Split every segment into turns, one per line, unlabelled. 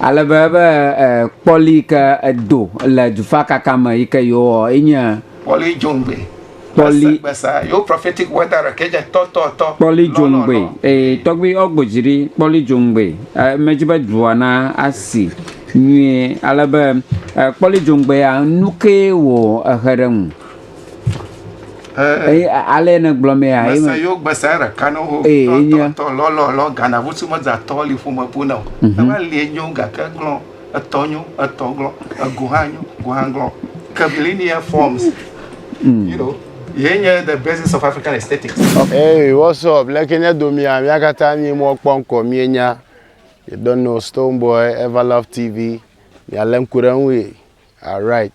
Ale be ebe kpɔli yi ke edo le dufakaka me yi ke yewo ɔ enye. Kpɔli djongbe. Kpɔli. Gbesa yo prophetic word are kedje tɔ tɔ tɔ. Kpɔli djongbe ee tɔgbi ɔ gbojiri kpɔli djongbe e medji be dua na asi nyuie ale be e kpɔli djongbe ya nukee wo exe ɖe ŋu. Eye ale ne gblɔ mɛ a. Mese yo gbese ɖeka ne wo. Ee enye. Tɔ lɔlɔ lɔ gana vusu meza tɔ li ƒome bu na o. Mhm. Ema li enyo gake glɔ etɔ nyo etɔ glɔ egu hã nyo gu hã glɔ curvilinear forms. Mm. You know. Yenye the basis of African aesthetics. Hey, what's up? Leke nye domia, mía katã mí mɔ kpɔ ŋkɔ mie nya. You don't know Stonebwoy, Everlove TV, mia le ŋku ɖe ŋu ye. Alright.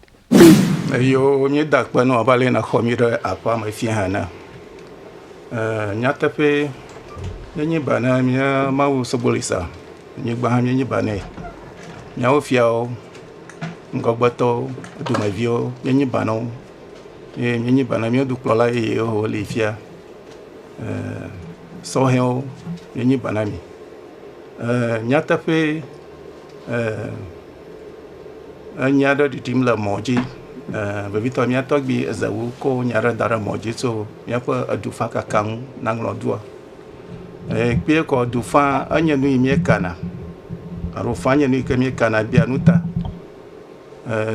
Eyoo, nye da kpe nɔ abe ale na xɔ mi ɖe aƒea me fia ene. Ee, nyateƒe, nye nyi ba ne mia mawu Sogbolisa, nye gba hã mia nyi ba ne miawo fiawo, ŋgɔgbetɔwo, dumeviwo, mia nyi ba ne wo, ye mia nyi ba ne mia dukplɔla yeye wo ho li fia. Ee, sɔhɛwo, mia nyi ba ne mi. Ee, nyateƒe, enya aɖe ɖiɖim le mɔ dzi, vevitɔ mía tɔgbui Ezewu kɔ nya aɖe da ɖe mɔ dzi tso míaƒe edufakaka ŋu naŋlɔ dua. Kpeɛ kɔ dufã enye nu yi míekana alo fã enye nu yi ke míekana bia nu ta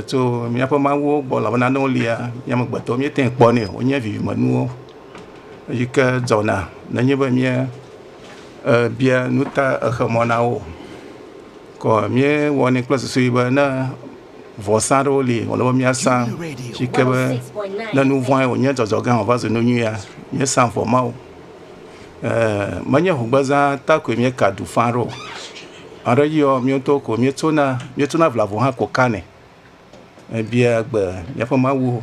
tso míaƒe mawuwo gbɔ elabena ne wolia, mía amegbetɔwo míete ŋu kpɔnɛ o. Wonye vivimenuwo yi ke dzɔna nenye be mía. ebia nu ta exe mɔ na wo o. Ke míewɔnɛ kple susu ʋi be ne vɔsa aɖewo li wòle be míasa si ke be ne nu vɔ̃e wònye dzɔdzɔ gã wòva zu nu nyuia, míesa vɔ ma wo. Ee menye ŋugbezã ta koe míeka du faa ɖo o. Ame ɖe yiɔ mía ŋutɔwo ko míetsona míetsona vlavo hã ko kanɛ. Ebia gbe míaƒe Mawu.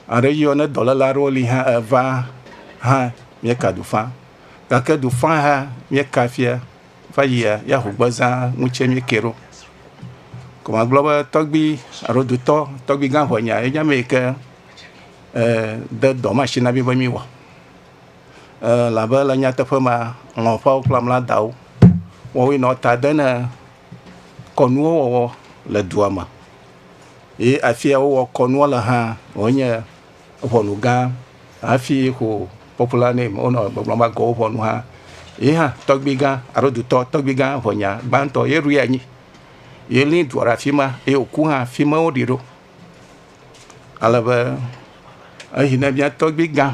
Aɖe yɔ ne dɔléle aɖewo li hã eva hã mieka dufã gake dufã hã mieka fia va yia ya ho gbe zã ŋu tse mieke ɖo ko ma gblɔ be tɔgbi alo dutɔ tɔgbi gã ŋɔ nya enya mi ke e de dɔ ma shi na mi be mi wɔ e labe le nyateƒe ma ŋɔ ƒe wo kple mla dawo wɔwi nɔ ta de ne kɔnuwo wɔwɔ le dua me ye afi ya wowɔ kɔnua le hã wonye ʋɔnu gã hafi ho popular name wonɔ gbɔgblɔm be agɔwo ʋɔnu hã ye hã tɔgbi gã alo dutɔ tɔgbi gã ʋɔnya gbãtɔ ye ɖu ya nyi ye li dua ɖe afi ma ye wòku hã afi ma woɖi ɖo ale be eyi ne mía tɔgbi gã.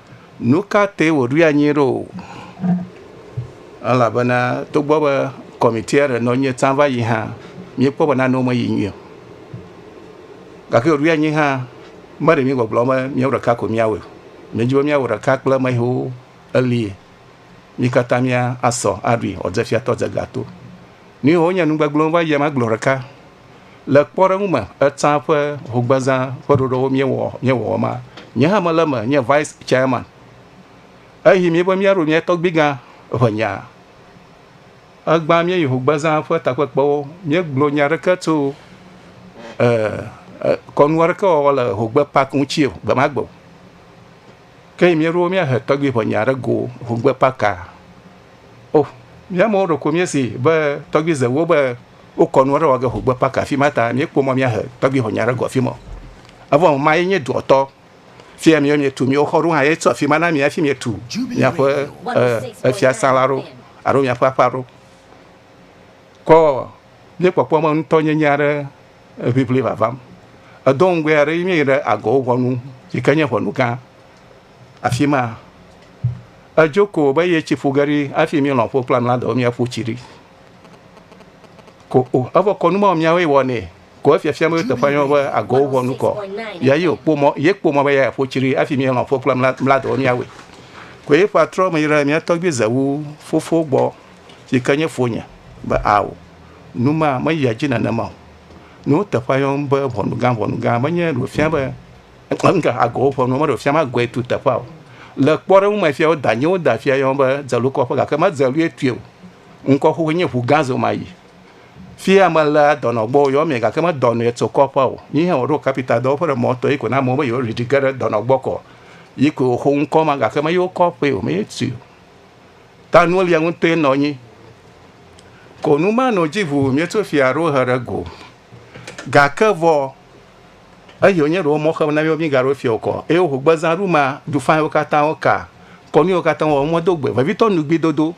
Nu ka tae wòɖoe anyi ɖo? Elabena togbɔ be kɔmitia ɖe nɔ anyi tsã va yi hã, míekpɔ be nanewo meyi nyuie o. Gake wòɖoe anyi hã be ɖe míegbɔgblɔm be míawo ɖeka ko míawɔe o. Míedi be míawɔ ɖeka kple ame yiwo elie. Mí katã míasɔ aɖui wòadze fiatɔ dze ga to. Nu yiwo nye nu gbegblẽ va yia magblɔ ɖeka. Le kpɔɖeŋu me, etsã ƒe hogbezã ƒe ɖoɖowo míewɔ míewɔwɔ ma, nye hã mele eme nye vice chairman. Eyi mí be míaɖo mía tɔgbuigã ƒe nya. Egbã míeyi hogbezã ƒe takpekpewo, míegblɔ nya aɖeke tso e, e, kɔnu aɖeke wɔwɔ le hogbe park ŋuti o, gbe ma gbe o. Ke míeɖo míahe tɔgbiʋɔnya ɖe go ŋugbe kpaka. O, mía amewo ɖeko míesi be tɔgbizewo be wokɔ nu aɖe wɔ ge ŋugbe kpaka afi ma ta míekpɔ mɔ míahe tɔgbiʋɔnya ɖe go afi ma. Evɔ ŋu ma ye nye duɔtɔ. Fia míwo mietu míwo xɔ ɖo hã ye tso afi ma na mi hafi mietu miaƒe efiasã la ɖo alo miaƒe aƒea ɖo. Kɔ míekpɔkpɔ me ŋutɔnyenye aɖe eŋiŋli vavam. Edo ŋugbe aɖe yi míeyi ɖe agɔwo ʋɔnu yi ke nye ʋɔnu gã. Afi ma edzo ko be ye tsi ƒu ge ɖi hafi míelɔ̃ ƒo kple amla dɔ míaƒu tsi ɖi. Ko o evɔ kɔnu mɔ míawoe wɔnɛ ko efiafia be teƒe yɔ be agɔwo ʋɔnu kɔ. Ya yi okpɔ mɔ ye kpɔ mɔ be ya ƒu tsi ɖi hafi míelɔ̃ ƒo kple mla mla dɔ míawoe. Ko ye ƒe atrɔ me yi ɖe mía tɔgbui zewu fofo gbɔ yi ke nye fonye be ao. Nu ma meyia edzi nenema o. Nuteƒea yɔm be ʋɔnugã ʋɔnugã menye ɖe wòfia be ŋka agɔwo ƒe nuwo, me ɖe wòfia be agɔe tu teƒea o. Le kpɔɖeŋu me fia wodanyewo woda afia yɔm be Dzelukɔƒe gake me Dzelue tue o. Ŋkɔ xoxoe nye Ŋugã Zomayi. Fia melea dɔnɔ gbɔ wòyɔ mee gake medɔnɔe tso kɔƒea o. Yi hã wòɖo kapita dɔwɔƒe ɖe mɔ tɔ yi ko na amewo be yewoɖiɖi ge ɖe dɔnɔ gbɔ kɔ. Yi koe wòxo ŋkɔ ma gake meyi wo kɔƒee o, meyi tui o. Ta nulia ŋutɔe nɔ nyi. Ko nu ma nɔ dzi ʋuu míeto fia aɖewo he ɖe go. Gake vɔ, eyi wònye ɖe womɔ xem na mí be mígaɖo fia okɔ eye woho gbezãɖu ma du faiwo katã woka kɔnu yiwo katã wowɔ mɔ do gbe vevitɔ nugbidodo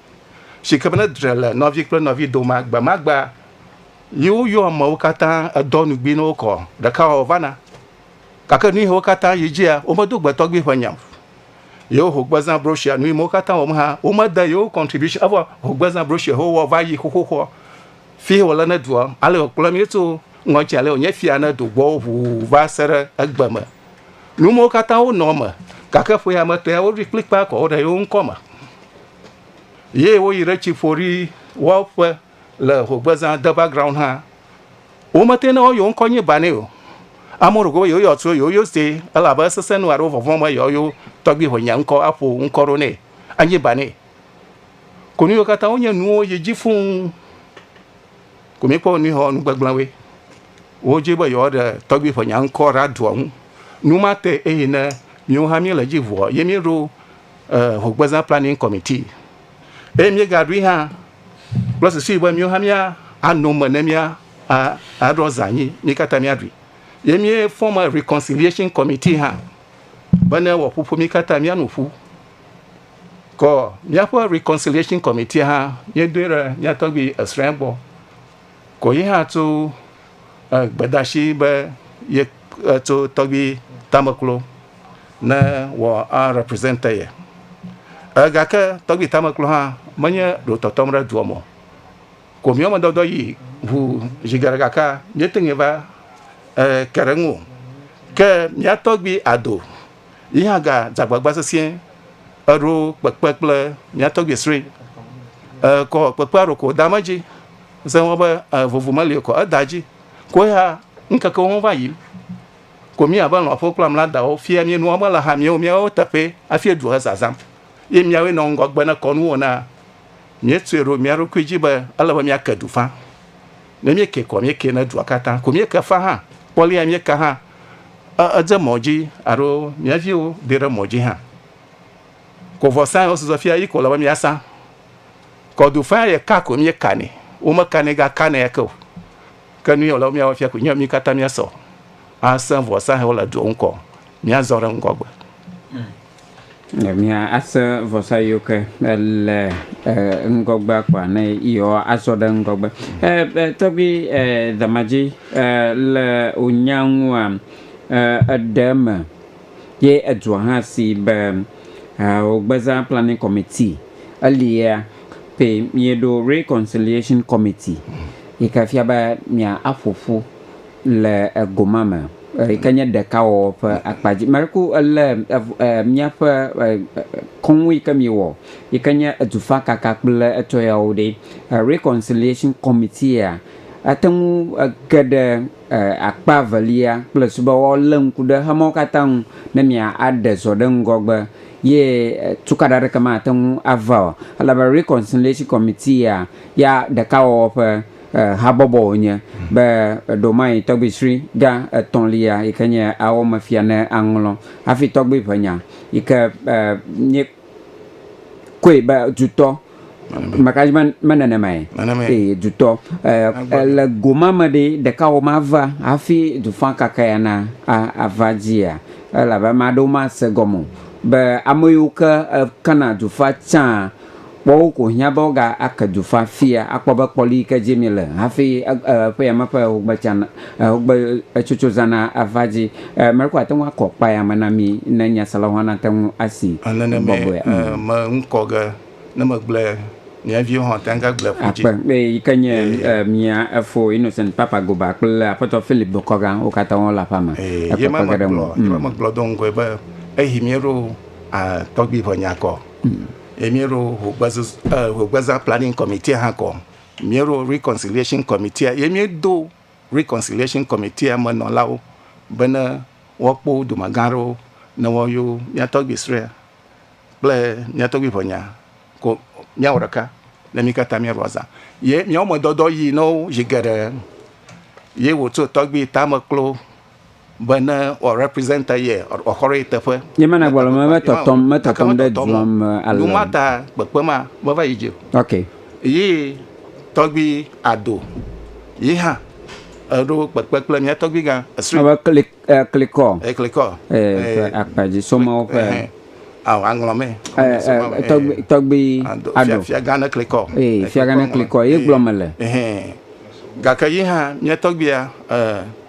si ke be ne dre le nɔvi kple nɔvi dome agbemagbe yi woyɔ amewo katã edɔ nugbi na wo kɔ ɖekawɔwɔ vana. Gake nuyiwo katã yi dzia, womedo gbe tɔgbi ƒe nya o. Yewo hogbezã broshuia Nu Yimewo Katã Wɔm hã, womede yewo contribution, evɔ hogbezã broshuia he wowɔ va yi xoxoxoa, fie wòle ne dua, ale wòkplɔ mí tso ŋɔdzi ale wònye fia ne do gbɔwo ʋuu va se ɖe egbe me. Nu mawo katã wonɔ eme, gake ƒea me tɔe woɖoe kplikpaa kɔ wo ɖe yewo ŋkɔ me. Ye woyi ɖe tsi ƒo ɖi woaƒe. Le hogbezã de background hã, wo me te ne wo yo ŋkɔ nyi Bani o. Amo ɖo go yo yo tso yo yo ste, ele abe esese nu alo vɔvɔn me yo yo tɔgbi ho nye ŋkɔ aƒo ŋkɔ ɖo ne anyi Bani. Ko nu yo kata wo nye nuwo yi dzi fuu. Ko mi kpɔ nu hɔ nu gbegblẽ we. Wo dzi be yo ɖe tɔgbi ho nye ŋkɔ ra doa ŋu. Nu ma te eyi ne miwo hã mi le dzi vɔ ye mi ɖo eh, hogbezã planning committee. Eye mi ga ɖui hã Kple susu be míwo hã míano eme ne míaɖɔ zã anyi, mí katã míaɖui. Ye míefɔma Reconciliation Committee hã bene wòaƒoƒo mí katã míano ƒu. Kɔ míaƒe Reconciliation Committee hã míedoe ɖe mía tɔgbui Esrael gbɔ. Kɔ yi hã tso Gbedeasi be ye tso tɔgbi tameklo ne wɔ a represent ye. Gake tɔgbi tameklo hã menye ɖo tɔtɔm ɖe dua me o. Ko mía me dɔdɔ yi ŋu zi geɖe gakea míete ŋu va ke ɖe eŋu o. Ke mía tɔgbi Ado yi hã ga dze agbagba sesĩe eɖo kpekpe kple mía tɔgbi srɔe. Kɔ kpekpea ɖo ko da me dzi. Ese ŋɔ be e, vovo meli kɔ, eda dzi. Ko ya ŋkekewo ho va yim. Ko mía be lɔ̃ƒo kple mla dawo fia mí nua mele ha míwo míawo teƒee hafi edu he zazam. Ye míawoe nɔ ŋgɔgbe ne kɔnu wo naa. Míetsoe ɖo mía ɖokui dzi be ele be míake du fã. Ne míekee kɔ míekee ne dua katã. Ko míeke fã hã. Kpɔ lea míeka hã e, edze mɔ dzi alo mía viwo de ɖe mɔ dzi hã. Ko vɔsa yi wosɔsɔ fia yi ko le be míasa. Kɔdufea ye ka ko mie ka nɛ. Wo me ka nɛ ga ka nɛ ake o. Ke nu ye wòle be mía wɔ fia koe nye be mí katã mía sɔ asẽ vɔsa hewo le doa ŋkɔ mía zɔ ɖe ŋgɔ gbe. Ne mía asẽ vɔsa yewo ke le ŋgɔ gbea kpoa ne yewoa azɔ ɖe ŋgɔ gbe. Tɔgbui Damadzi le wò nya ŋua eɖe eme Ye edua hã si be Hao Gbeza Planning Committee, elia pɛ mieɖo Reconciliation Committee yi ke fia be mia aƒo ƒu le ego ma me yi ke nye ɖekawɔwɔ ƒe akpa dzi. Meku ele miaƒe kɔnu yi ke miewɔ yi ke nye edufakaka kple etɔ yawo ɖe, Reconciliation Committee ya ate ŋu ge ɖe Akpa evelia kple su be woalé ŋku ɖe xemɔwo katã ŋu ne mia aɖe zɔ ɖe ŋgɔgbe ye tukaɖa aɖeke mate ŋu ava o. Elabe Reconciliation Committee ya ya ɖekawɔwɔ ƒe habɔbɔ wònye be ɖewomae tɔgbuisri gã etɔ̃lia yi ke nye awɔmefia ne aŋlɔ hafi tɔgbuiʋenya yi ke mie koe be dutɔ Mekaji me nenemae. Nenemae. Eye dutɔ le goma me ɖe ɖeka wo ma va hafi dufã kaka ya na ava dzia elabe ame aɖewo ma se gɔme o be ame yiwo ke kena dufã tsã kpɔ wo ko hiã be wo ga ke dufã fia akpɔ be kpɔli yike dzi mi le hafi eƒe yame ƒe wogbe tsã. Ɛ, wogbe etsotso zãna ava dzi. Ɛ, mele ko ate ŋu akɔ kpa ya me na mi ne nyaselawo hã nate ŋu asi Ɛ, nenemae gbɔgbɔea. ɛ, Mm. me ŋu kɔ ge ne megble mia viwo hã ate ŋu agble ƒu dzi. Akpe, eye yi ke nye, Ee. ɛ, mia Efo Innocent Papa Goba kple Aƒetɔ Philip Dokɔga, wo katã wole aƒea me. Ee, ye Ekpekpe ma ge ɖe megblɔ, ŋuwò. ye ma Mm. megblɔ do ŋgɔe be eyi míeɖo, ɛ, tɔgbui ʋe nya kɔ. Ye míeɖo ŋugbezuzu, ɛ, ŋugbezã planning committee hã kɔ. Míeɖo Rikɔnsiliashin Kɔmitia ye míedo Rikɔnsiliashin Kɔmitia me nɔlawo bene woakpɔ wo dumegã aɖewo ne woayɔ mía tɔgbui srɔ̃e kple mía tɔgbui ʋɛnya ko míawɔ ɖeka ne mí katã míaɖo azã. Ye míawo me dɔdɔ yi na wo zi geɖe ye wòtso tɔgbui tame klo Be ne wɔ represent ye, wòaxɔɖo ye teƒe. Nye mana gbɔlɔ me metɔtɔm, metɔtɔm ɖe dua me ale. Nu ma ta kpekpe ma meva yi dzi o. Ok. Yi tɔgbi Ado yi hã eɖo kpekpe kple mía tɔgbi gã Esri. Ebe klik ɛ klikɔ. Ɛ klikɔ. Ɛ ƒe akpa dzi somawo ƒe. Awo aŋlɔ me. Ɛ ɛ tɔgbi tɔgbi Ado. Fia fia gã ne klikɔ. Ɛ fia gã ne klikɔ ye gblɔ me le. Gake yi hã mía tɔgbia ɛ.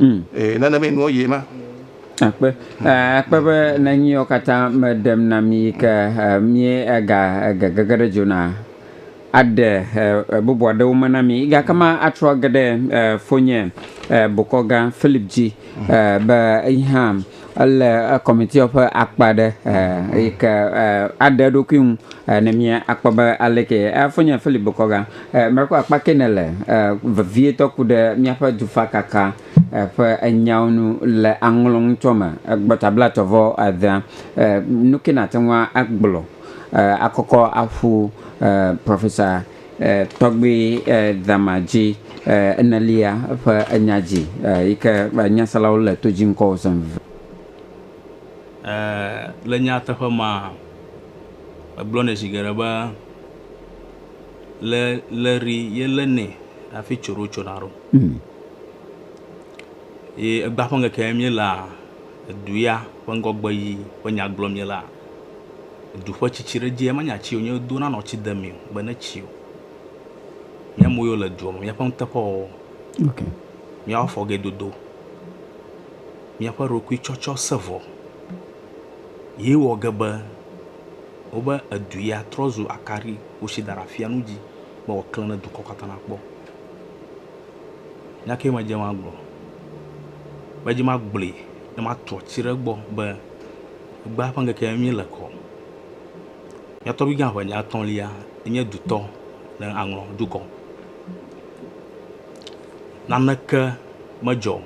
Mm. Ee, nane me nuɔ ye ma. Akpe, eh, akpe be nenyiwo katã meɖem na mi yi ke eh, mie ega ege gege ɖe dzo na aɖe eh, bubu aɖewo me na mi. Gake ma atrɔ ge ɖe eh, fonye eh, bokɔgã Philip dzi eh, be yi hã Ele kɔmitia ƒe akpa ɖe eh, eyi ke eh, aɖe eɖokui ŋu eh, ne mía akpɔ be aleke eh, fonye Philip Bokɔga eh, mekɔ akpa ke ne le eh, vevietɔ ku ɖe míaƒe dufakaka eh, ƒe enyawo nu le aŋlɔ ŋutsɔ me eh, gbɔta bla tɔ vɔ adea eh, eh, nu ke nate ŋu agblɔ eh, akɔkɔ aƒu eh, Professor Tɔgbi Dama dzi enelia ƒe enya dzi yi ke nyaselawo le to dzi ŋkɔ wòzɔ vevie. Le nyateƒe me, megblɔnɛ zi geɖe be, le le ri ye le nɛ hafi tso ɖo tsona ɖo. Ye egba ƒe ŋkeke ye mí lea, edu ya ƒe ŋgɔgbe yi ƒe nya gblɔ mí lea. Edu ƒe tsitsi ɖe dzie menye atsi wonye do na nɔ tsi de mi be ne tsi o. Mía mo yo le duɔ me mía ƒe nuteƒe wɔwɔ. Okay. Mía wo fɔ ge dodo. Mía ƒe ɖokui tsɔtsɔ se vɔ. Ye wɔ ge be wobe edu ya trɔ zu akari wosi da ɖe afia nu dzi be wɔ kle ne dukɔ kata na kpɔ. Nya ke me dze ma gblɔ. Me dze ma gblɔe ne ma trɔ tsi ɖe gbɔ be. Egbea ƒe ŋkeke ye míele kɔ. Mía tɔgbuigã ƒe nya etɔ̃lia enye dutɔ ne aŋlɔ dukɔ. Naneke medzɔ o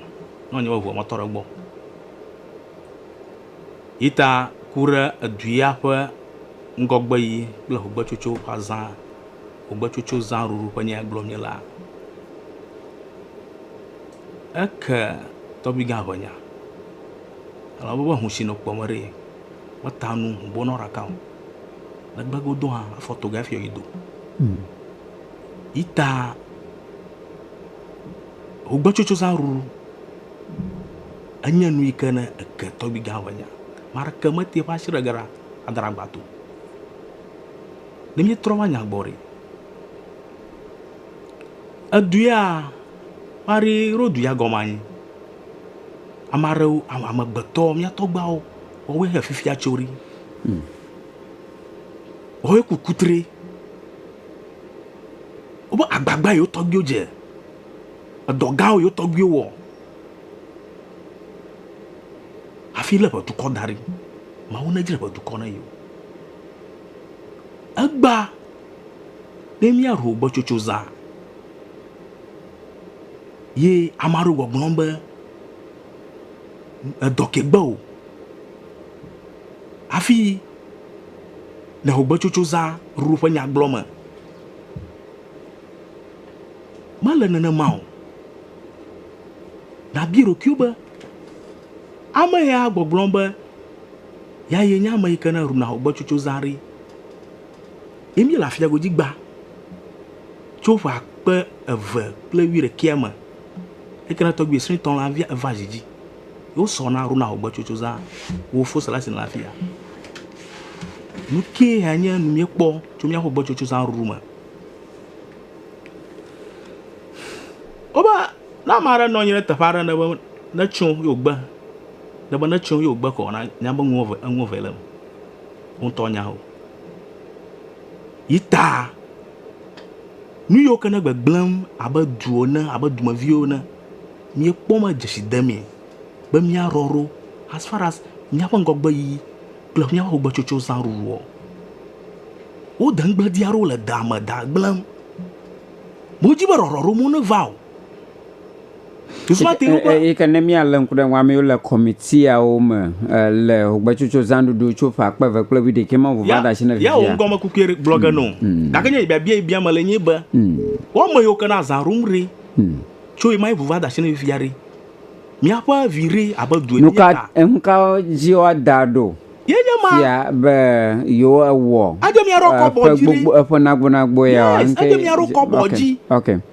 ne wònye be ŋua metɔ ɖe egbɔ o. Yi ta ku ɖe edu ya ƒe ŋgɔgbe yi kple ŋugbetsotso ƒe azã, ŋugbetsotso zã ɖuɖu ƒe nya ye gblɔm míele hã. Eke tɔgbuigã ƒe nya. Elabe woƒe ŋu si nɔ kpɔm ɖi meta nu ŋubo na wo ɖeka o. Negbe godo hã, afɔ toga hafi yi do. Yi ta ŋugbetsotsozãɖuɖu enye nu yi ke ne eke tɔgbuigã ŋu nya. Ame aɖeke metea eƒe asi ɖe ge ɖa ada ɖe agba to o. Ne míetrɔ va nya gbɔ ɖi, edu ya, Marie Rodu ya gɔme anye? Ame aɖewo, amegbetɔ, mía tɔgbuiawo, woawoe he fifia tso ɖi. Hmm. Woawoe ku kutre. Woƒe agbagba yewo tɔgbuiwo dze. Edɔ gãwo yewo tɔgbuiwo wɔ. Hafi lé ƒe dukɔ da ɖi. Mawu nedzre ƒe dukɔ ne yewo. Egba ne míaɖu gbɔtsotso zã. Ye ame aɖewo gbɔgblɔm be, Edɔ ke gbe o hafi le xɔgbetsotso zã ɖuɖu ƒe nya gblɔ me. Mele nenema o. Nàbia ɖokuiwò be, Ame ya gbɔgblɔm be ya ye nye ame yi ke ne ɖuna xɔgbetsotso zã ɖi? Ye míele afia godzi gbã. Tso ƒe akpe eve kple wuiɖekɛa me, Ekena tɔgbui srĩtɔ la via eva dzi dzi. Wo sɔ na Ronald gbɔtsotso zã wo fo sela sin la fia. Nu kee ya nye nu mie kpɔ tso mia ƒe gbɔtsotso zã ruru me? Wobe ne ame aɖe nɔ anyi ɖe teƒe aɖe ne be ne tso yo gbe, ne be ne tso yo gbe kɔ na nya be ŋu eve eŋu eve le me. Wo ŋutɔ nya o. Yi ta. Nu yiwo ke ne gbegblẽm abe du ene abe dumeviwo ene, míekpɔ me dzesi demee be míarɔrɔ as far as míaƒe ŋgɔgbeyiyi kple míaƒe ƒogbetsotso zã ɖuɖuɔ. Wode ŋugbedia aɖewo le dea me da gblẽm. Wodi be ɖɔɖɔɖo mu neva o. Eyi ke ne míalé ŋku ɖe eŋu, ame yiwo le kɔmitiawo me le ŋugbetsotso zãɖuɖu tso ƒe akpe eve kple wuiɖekɛ ma ŋu va ɖe asi ne vivia. Ya wò ŋgɔmekukue gblɔ ge nɔ. Gake nye biabia yi biam mele nye be, wò ame yiwo ke le azã ɖum ɖe, tso ɣemaɣi ŋu va de asi ne vivia ɖe, míaƒe vi ɖe abe du ene ta. Enu ka dzi woada ɖo fia be yewɔ eƒe nagbonagbɔ yawoa? Enu kae dzi woada ɖo fia be yewɔ eƒe nagbonagbɔ yawoa?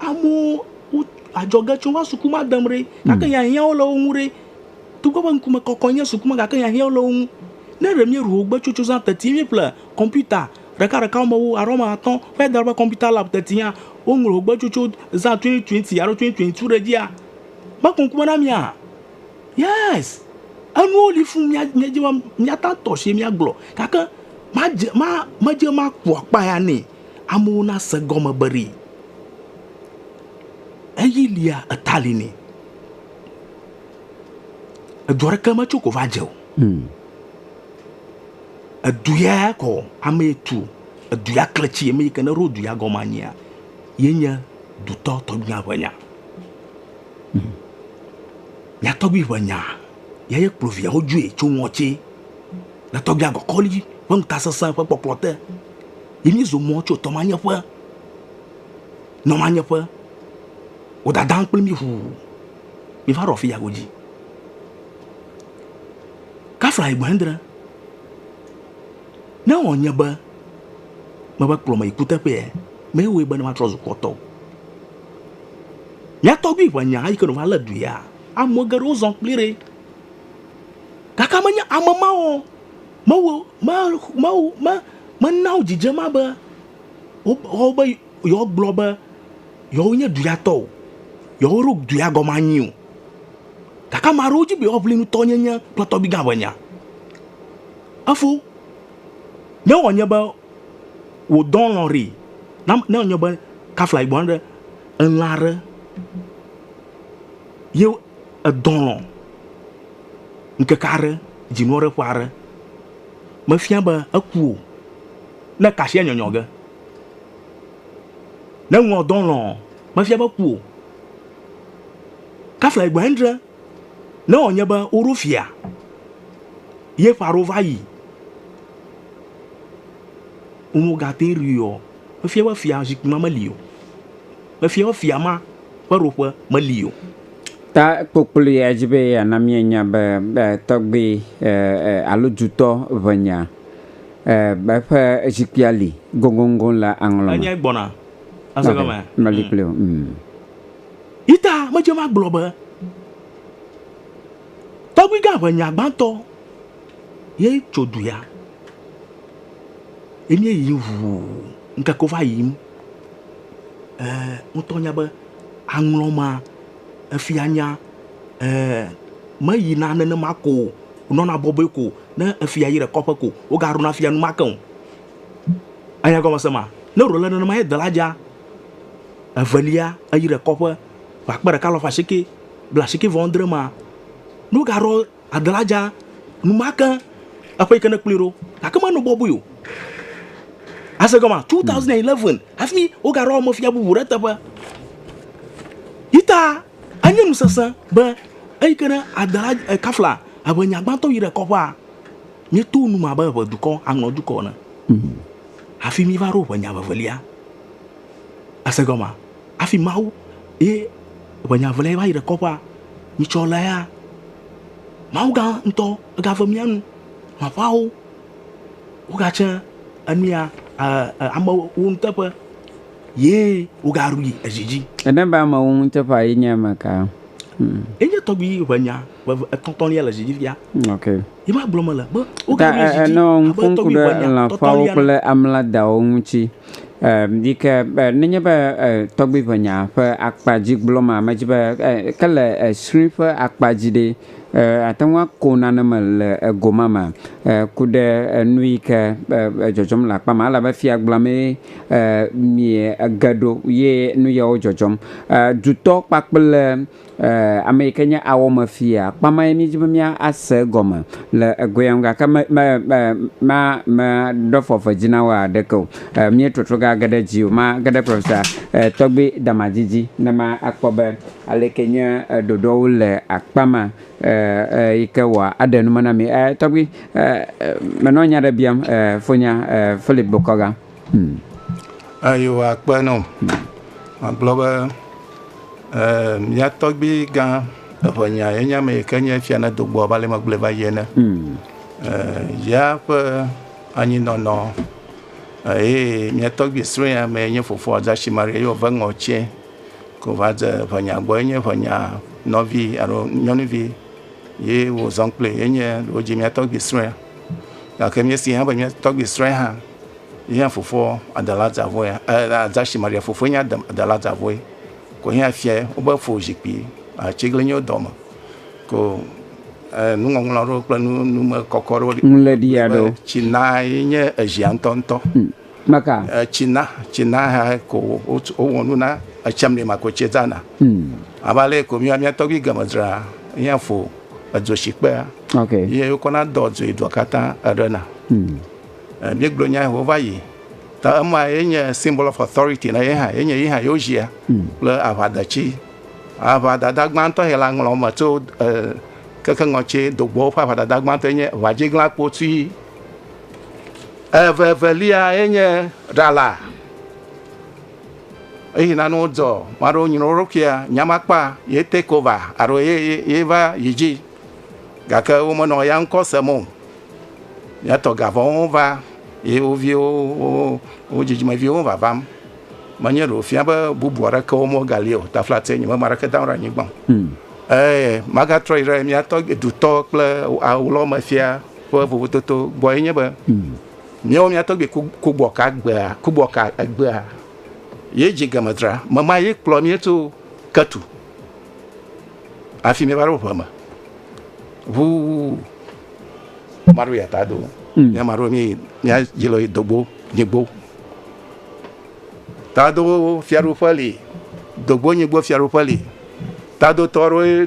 Amewo wo adzɔge tsom va suku ma dem ɖe, gake hiahiãwo le wo ŋu ɖe. Togbɔ be ŋkume kɔkɔe nye suku ma gake hiahiãwo le wo ŋu. Ne ɖe míeɖu wogbe tso tsozã teti ye míeƒle kɔmpiuta ɖekaɖekawo me wu alo ame atɔ̃ vae da ɖe woƒe kɔmpiuta lab tetia, woŋlɔ wogbe tso tso zã twenty twenty alo twenty twenty two ɖe edzia, mekɔ ŋkume na mía? Yes! Enuwo li fũ mía míedze be míate ŋu atɔ asie míagblɔ gake madze ma medze ema ku akpa ya nɛ Amewo nase egɔme be ɖee eyi lia eta li nɛ. Edu aɖeke metso ko va dze o. Hmm. Edu ya kɔ ame tu edu ya kletsi ame yi ke ne ɖo du ya gɔme anyia yenye dutɔ tɔgbuia ƒe nya. Hmm. Mia tɔgbui ƒe nya ya ye kplɔ viawo dzoe tso ŋɔtsi le tɔgbuia gɔkɔli ƒe ŋutasesẽ ƒe kpɔkplɔ te. Ye mí zɔ mɔ tso tɔmanyeƒe nɔ manyeƒe. Wo dadam kple mí ʋuu mí va ɖo afi ya godzi. Kafla egbe ŋdrẽ. Ne wɔ nye be me va kplɔ me yi kuteƒea, me wɔe be ne ma trɔ zu kpɔtɔ. Mía tɔgbi ŋɛ nya eyi ke no va le du ya. Ame geɖewo zɔ kpli ɖe. Gake me nye ame mawo. Mawu, ma, Mawu, ma, mena wo dzidzem ma be wo, woawo be yewoa gblɔ be yewo nye duya tɔ o, yewo ɖo duya gɔme anyi o. Gake ame aɖewo dzi be yewoa ʋli nutɔ nye nye kple tɔgbi gã ƒe nya. Efo, ne wɔ nye be wò dɔn lɔ ri, na, ne wɔ nye be kafla yi gbɔna ɖe elã ɖe ye edɔn lɔ. Ŋkeke aɖe, dzinu aɖe ƒe aɖe mefia be eku o. Ne kasia nyɔnyɔ ge, ne ŋua dɔ lɔ, mefia be eku o. Kafla egbe endre, ne wònye be woɖo fia ye ƒe aɖewo va yi, womegate ŋui o, efia be fia zikpui ma meli o. Mefia be fia ma ƒe ɖoƒe meli o. Ta kpokploea dzi be yeana míenya be tɔgbui alo dutɔ ʋenya ƒe zikpuia li goŋgoŋgoŋ le aŋlɔ me. Enyae gbɔna. Ese gɔme? Meli kpli o. Yi ta medze me agblɔ be tɔgbuigã ʋenya gbãtɔ ye tso du ya. Ye míeyim ʋuu ŋkeke va yiyim. eer ŋutɔ nya be aŋlɔ ma, efia nya eer meyina nenema ko o, wònɔna bɔbɔe ko ne efia yi ɖe kɔƒe ko, wogaɖuna fia enumake o. Anya egɔmesẽ ma? Ne wòle nenema ye dela dzaa, evelia eyi ɖe kɔƒe le akpe ɖeka alafa asieke blaasieke vɔ adre ma, ne wogaɖɔ. Agla dza, numake eƒe yi ke nekplɔe ɖo gake menɔ bɔbɔe o. Ase gɔme 2011 hafi wogaɖo ame fia bubu ɖe teƒe. Yi ta enye nu sesẽ be eyi ke ne Agla eh, Kafla eʋe nya gbãtɔ yi ɖe kɔƒea míeto nu me abe eʋe dukɔ aŋlɔ dukɔ ene. Hafi míva ɖo ʋe nya vevelia. Ase gɔme. Hafi Mawu ye ʋenya ve lea ye va yi ɖe kɔƒea, mi tsɔ lé ya. Mawu gã ŋutɔ ega ve mía nu. Aƒawo wo ga tse enua amewo nu teƒe ye wo ga ɖui edzi dzi. Ene be amewo nu teƒe ye nye ame ka? Ye nye tɔgbui ʋenya ve etɔtɔ lia le edzi dzi fia. Ok. Ta enɔ ŋku ŋku ɖe lã ƒeawo kple amla dawo ŋuti yi ke be nenye be tɔgbui ŋe nya ƒe akpa dzi gblɔ ma me dzi be ke le srui ƒe akpa dzi ɖe ate ŋu ako nane me le ego ma me ku ɖe nu yi ke dzɔdzɔm le akpa ma ale be fia gblɔ mee mie ge ɖo ye nu yawo dzɔdzɔm. Dutɔ kpakple. Ee, ame yi ke nye awɔmefia. Kpã mae míedi be míase egɔme le egoea ŋu gake me, me, me, ma, meɖe fɔfɔdzi na wo haɖeke o. E, míetrɔtrɔ gage ɖe edzi o. Mage ɖe Profesa e, Tɔgbi Damadzi dzi ne makpɔ be aleke nye e, ɖoɖoawo le akpa ma e, e, yi ke wɔ aɖe nu me na mi. E, tɔgbi, e, e, menɔ nya ɖe biam e, fonya e, Philip Bokoga. Yehowa kpe na wò. Magblɔ be mía tɔgbui gã eŋɛnya ye nye ame yi ke nye fia ne do gbɔ abe ale megblɔe va yi ene. Yea ƒe anyinɔnɔ eye mía tɔgbui srɔ̃ ya mee nye fofoa Adashi Maria ye wòve ŋɔ tsɛ ko va dze eŋɛnya gbɔ. Enye eŋɛnya nɔvi alo nyɔnuvi ye wozɔ kpli ye nye wodzi mía tɔgbui srɔ̃ ya. Gake míesee hã be mía tɔgbui srɔ̃e hã ye hã fofoa adala dzavɔe adasi Maria fofoe nye adala dzavɔe ko ye hã fia wobe fo zikpui atiglinyiwo dɔme ko nuŋɔŋlɔ aɖewo kple nume kɔkɔ aɖewo. Ŋlɛɖi aɖewo. Tsi na ye nye ezia ŋutɔŋutɔ. Hmm. Maka. Tsina, tsina ha ko wowɔ nu na etsam ne mako tse dzana. Hmm. Ava le ko mia mia tɔgbi game dzra ya fo edzo si kpea. Okay. Ye yo kona do dzo do kata erena. Hmm. Eh, mi glo nya ho va yi. Ta ema ye nye symbol of authority na ye ha ye nye ye ha yo jia. Hmm. Le ava da chi. Ava da da gban to he la nglo ma to eh keke ngɔ tse dogbo fa ava da da gban to nye va jigla kpo tui. Eveveliae nye ɖala. Eyi na no dɔ maɖo nyina wo ɖokuia nyamakpa ye take over alo ye ye va yi dzi gake wo menɔ ya ŋkɔ sem o. Ya tɔ gavɔwo va ye wo viwo wo dzidzimeviwo vavam. Menye ɖo fia be bubu aɖeke wo mo gali o. Taflatse nye me ma ɖeke dawo ɖe anyigba. Ɛɛ magatrɔ yi ɖe mia tɔ dutɔ kple awlɔ me fia. Ƒe vovototo gbɔe nye be míewɔ mía tɔgbui Kugbɔka gbea, Kugbɔka egbea ye dzi Gemedra me ma ye kplɔ mí tso Ketu afi míeva ɖo ʋe me ʋu maɖo yata do mm. mía maɖo mí mía dzi le dogbo nyigbo tado fiaɖuƒe li dogbo nyigbo fiaɖuƒe li tado tɔɖo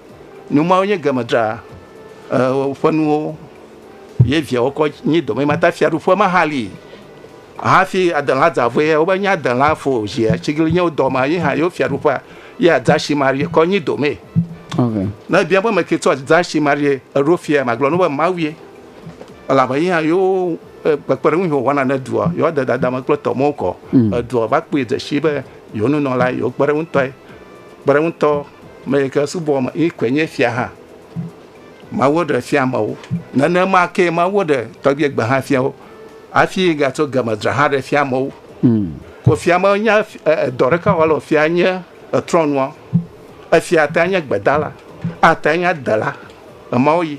Nu mawo nye game dra eh, ƒe nuwo ye viawo kɔ nyi dome ma ta fiaɖuƒe ma hã li hafi adela dzavɔe ya wobe nye adela fo zi atsigilinyewo dɔ ma ye hã yewo fiaɖuƒea ye adasi marie kɔ nyi dome okay. ne bia be meke tso adasi marie eɖo fia magblɔ no be mawie elabe ye hã yewo eh, kpekpeɖeŋu yi wòwɔna ne dua yewo de dadame kple tɔmewo kɔ mm. edua va kpɔe dzesi be yewo nunɔla yewo kpe ɖe ŋutɔe Kpeɖeŋutɔ me yi ke subɔ me yi koe nye fia hã. Mawu ɖe fia amewo. Nenema ke Mawu ɖe tɔgbie gbe hã fia wo. Hafi gatso game dzra hã ɖe fia amewo. Hmm. Ko fia me nya edɔ ɖeka wɔ le fia nye etrɔnua. Efia ate nye gbedala, ate nye adela, emawo yi.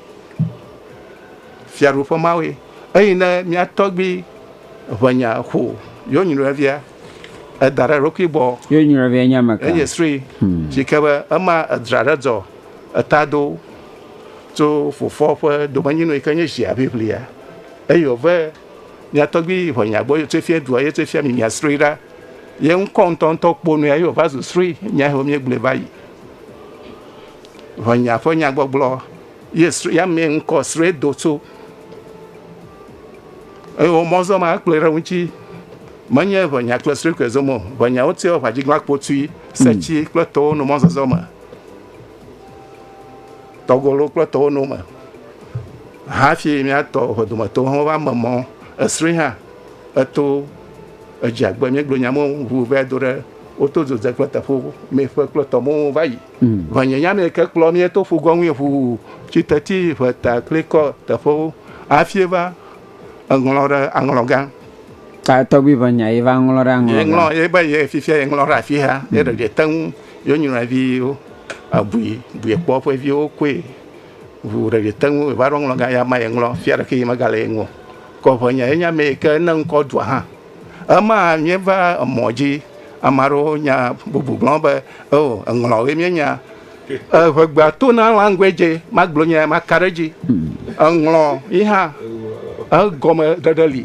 Fiaɖuƒe mawo yi. Eyi ne mia tɔgbi ʋenya xo yewo nyinɔevia Eda ɖe eɖokui gbɔ. Ye nyɔvia nye ameka? Enye sri si ke be ema edra ɖe dɔ eta do tso fofoa ƒe domenyinu yi ke nye zia ʋiʋlia eye wòve mia tɔgbui yi ʋe mia gbɔ eye wòtsoe fia dua eye wòtsoe fia mi mia sri ɖa. Ye ŋkɔ ŋutɔŋutɔ kpo nue eye wòva zu sri mia he wòmie gblɔe va yi. Ʋe mia ƒe nyagbɔgblɔ ye sri ya mee ŋkɔ sri do tso eye womɔzɔma ekplɔe ɖe ŋuti. Menye ʋenya kple srui koe zom o, ʋenyawo tia wɔ ʋãdziglã kpotui, setsi kple towo no mɔzɔzɔ me, tɔgolo kple towo no me. Hafi míatɔ ʋe dometowo hã va me mɔ esrui hã eto edzia gbe míegblɔ nya mewo ŋu vae do ɖe woto dzodze kple teƒo meƒe kple tɔmewo va yi. Ʋenyenya mee ke kplɔ mí to ƒugɔŋui ʋuu tsi teti ʋeta klikɔ teƒewo hafi va Eŋlɔ ɖe aŋlɔ gã. Ta tɔgbi ƒe nya ye va ŋlɔ ɖe aŋlɔ gã. Ye ŋlɔ ye be ye fifia ye ŋlɔ ɖe afi ha ye ɖe ye te ŋu ye nyrɔe vi wo abui bui kpɔ ƒe viwo koe ŋu ɖe ye te ŋu va ɖo ŋlɔ gã ya ma ye ŋlɔ fia ɖe ke ye mega le ye ŋu kɔ ƒe nya ye nya me ke ne ŋkɔ dua hã ema mi va emɔ dzi ame aɖewo nya bubu gblɔ be eo eŋlɔ ye mi nya. Eŋegbea to na language magblɔ nya maka ɖe dzi. Eŋlɔ yi hã egɔme ɖeɖe li.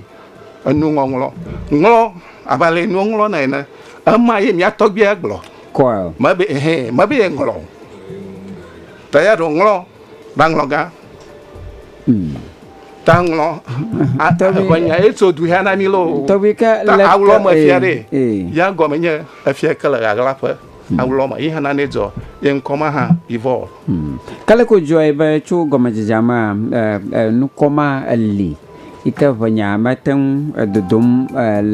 Enu ŋɔŋlɔ ŋlɔ abe ale yi nuŋlɔ na ene. Ema ye mia tɔgbia gblɔ. Coil. Mebe ehe mebe ye ŋlɔ. Ta ya ɖo ŋlɔ ba ŋlɔ gã. Hmm. Ta ŋlɔ. Ate ŋlɔ nya ye tso du ya na mi lo. Tɔbi ke le. Ta awlɔ me fia ɖe. Ya gɔme nye efia ke le ɣaɣla ƒe. Aŋlɔ ma yi hã nane dzɔ ye ŋkɔ ma hã yi vɔ. Kaleko dzɔe be tso gɔmedzedzea mea, nukɔ ma li yi ke ʋenya mete ŋu dodom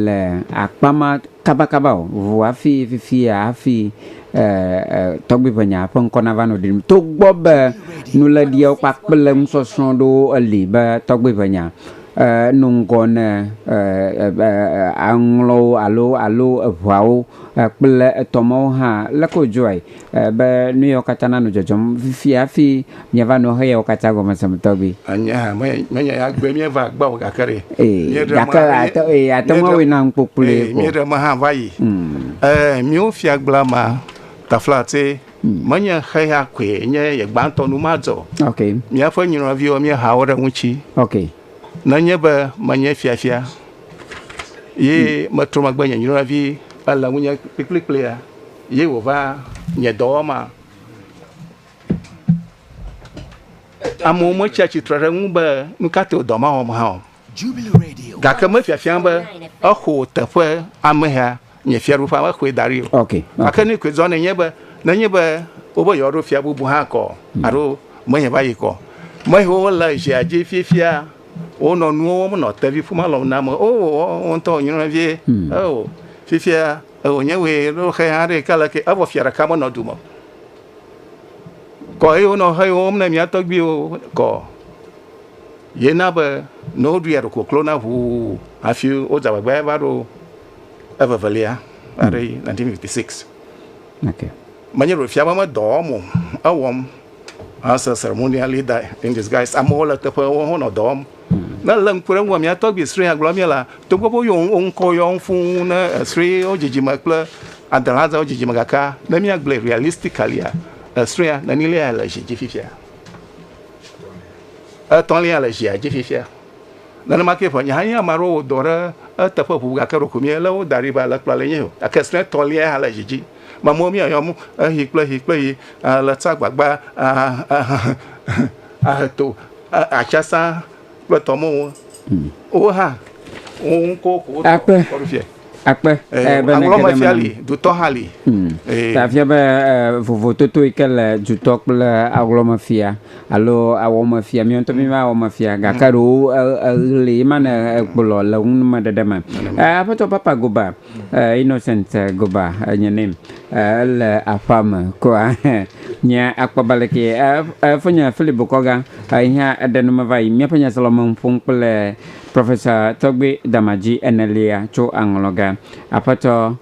le akpa ma kabakaba o ŋu hafi fifia hafi tɔgbiʋenyaa ƒe ŋkɔ nava nɔ ɖiɖim. Togbɔ be nuléɖiawo kpakple nusɔsrɔ̃ ɖewo li be tɔgbiʋenya no ŋgɔ ne aŋlɔwo alo alo eŋeawo kple etɔ mawo hã, leke wodzɔe be nuyawo katã nanɔ dzɔdzɔm fifia hafi miava nɔ eyawo katã gɔme sem tɔgbi? Anye hã menye ya gbee míeva gbɔ o, gake ɖe míeɖe me hã va yi. Míwo Fiagblea ma, Taflatse, menye xeya koe nye ye gbãtɔ numadzɔ o. Míaƒe nyɔnuviwo míeha wo ɖe eŋuti. Nenye be menye fiafia ye metrɔ megbe nye nyɔnuvi ele ŋunye kplikpliklea ye wòva nye dɔwɔma. Amewo metsia tsitre ɖe ŋu be nu ka tae wòdɔ mawɔm hã o, gake mefiafiam be exɔ teƒe amehea. nye fiaɖuƒea mexɔe da ɖi o okay, okay. gake nu koe dzɔ nenye be nenye be wobe yewoaɖo fia bubu hã kɔ hmm. alo menye va yi kɔ mehewo le zia dzi fiefia wonɔ nuwo wɔm nɔ tevi ƒuma lɔm na me o wo ŋutɔ nyrɔ vie hmm. o fiefia wònye wòe ɖo xe hã ɖe ke le ke evɔ fia ɖeka menɔ du me kɔ eye wonɔ xe wɔm ne mía tɔgbiwo kɔ yena be ne woɖu ya ɖo koklo na ʋuu hafi wodze agbagba va ɖo evevelia aɖe yi 1956 okay. menye ɖo fia be medɔwɔm o ewɔm ase ceremonial leader in disguise amewo le teƒewo honɔ dɔ wɔm ne le ŋku ɖe ŋgɔ mia tɔgbi sri agblɔ mia la togbɔ be yɔ ŋkɔ yɔ ŋfu ne sri wo dzidzime kple adelaza wo dzidzime gaka ne mia gblɛ realistically sria nenilia le zi dzi fifia etɔlia le zia dzi fifia Nenema ke ƒe nye hã nye ame aɖewo wɔ dɔ ɖe eteƒe ʋu gake ɖeko míelé wo da ɖi be alẽkplɔla le nye o. Gake srɔ̃ etɔ̃lia hã le dzi dzi. Mamleawo míayɔ mo eɣi kple eɣi kple eɣi le tsa agbagba ahe to atsiasã kple tɔmewo. Wowo hã wo ŋkɔwo ko wokɔ ɖo fiae. Akpe eh, be aŋlɔ me fia li dutɔ hã li. Hmm. Eh. Ta fia be eh, vovototo yi ke le dutɔ kple aŋlɔ me fia alo awɔ me fia mi ŋutɔ mi ma awɔ me fia gake hmm. ɖewo eɣli ma ne ekplɔ le ŋu me ɖeɖe me. Aƒetɔ Papa Goba Innocent Goba nye name le aƒa me koa nye akpɔba le ke fo nye Philip Bokɔga ihe eɖe nu me va yi miaƒe nyaselɔme ƒom kple Professor Tɔgbe Damadzi enelia tso aŋlɔ ge. Aƒetɔ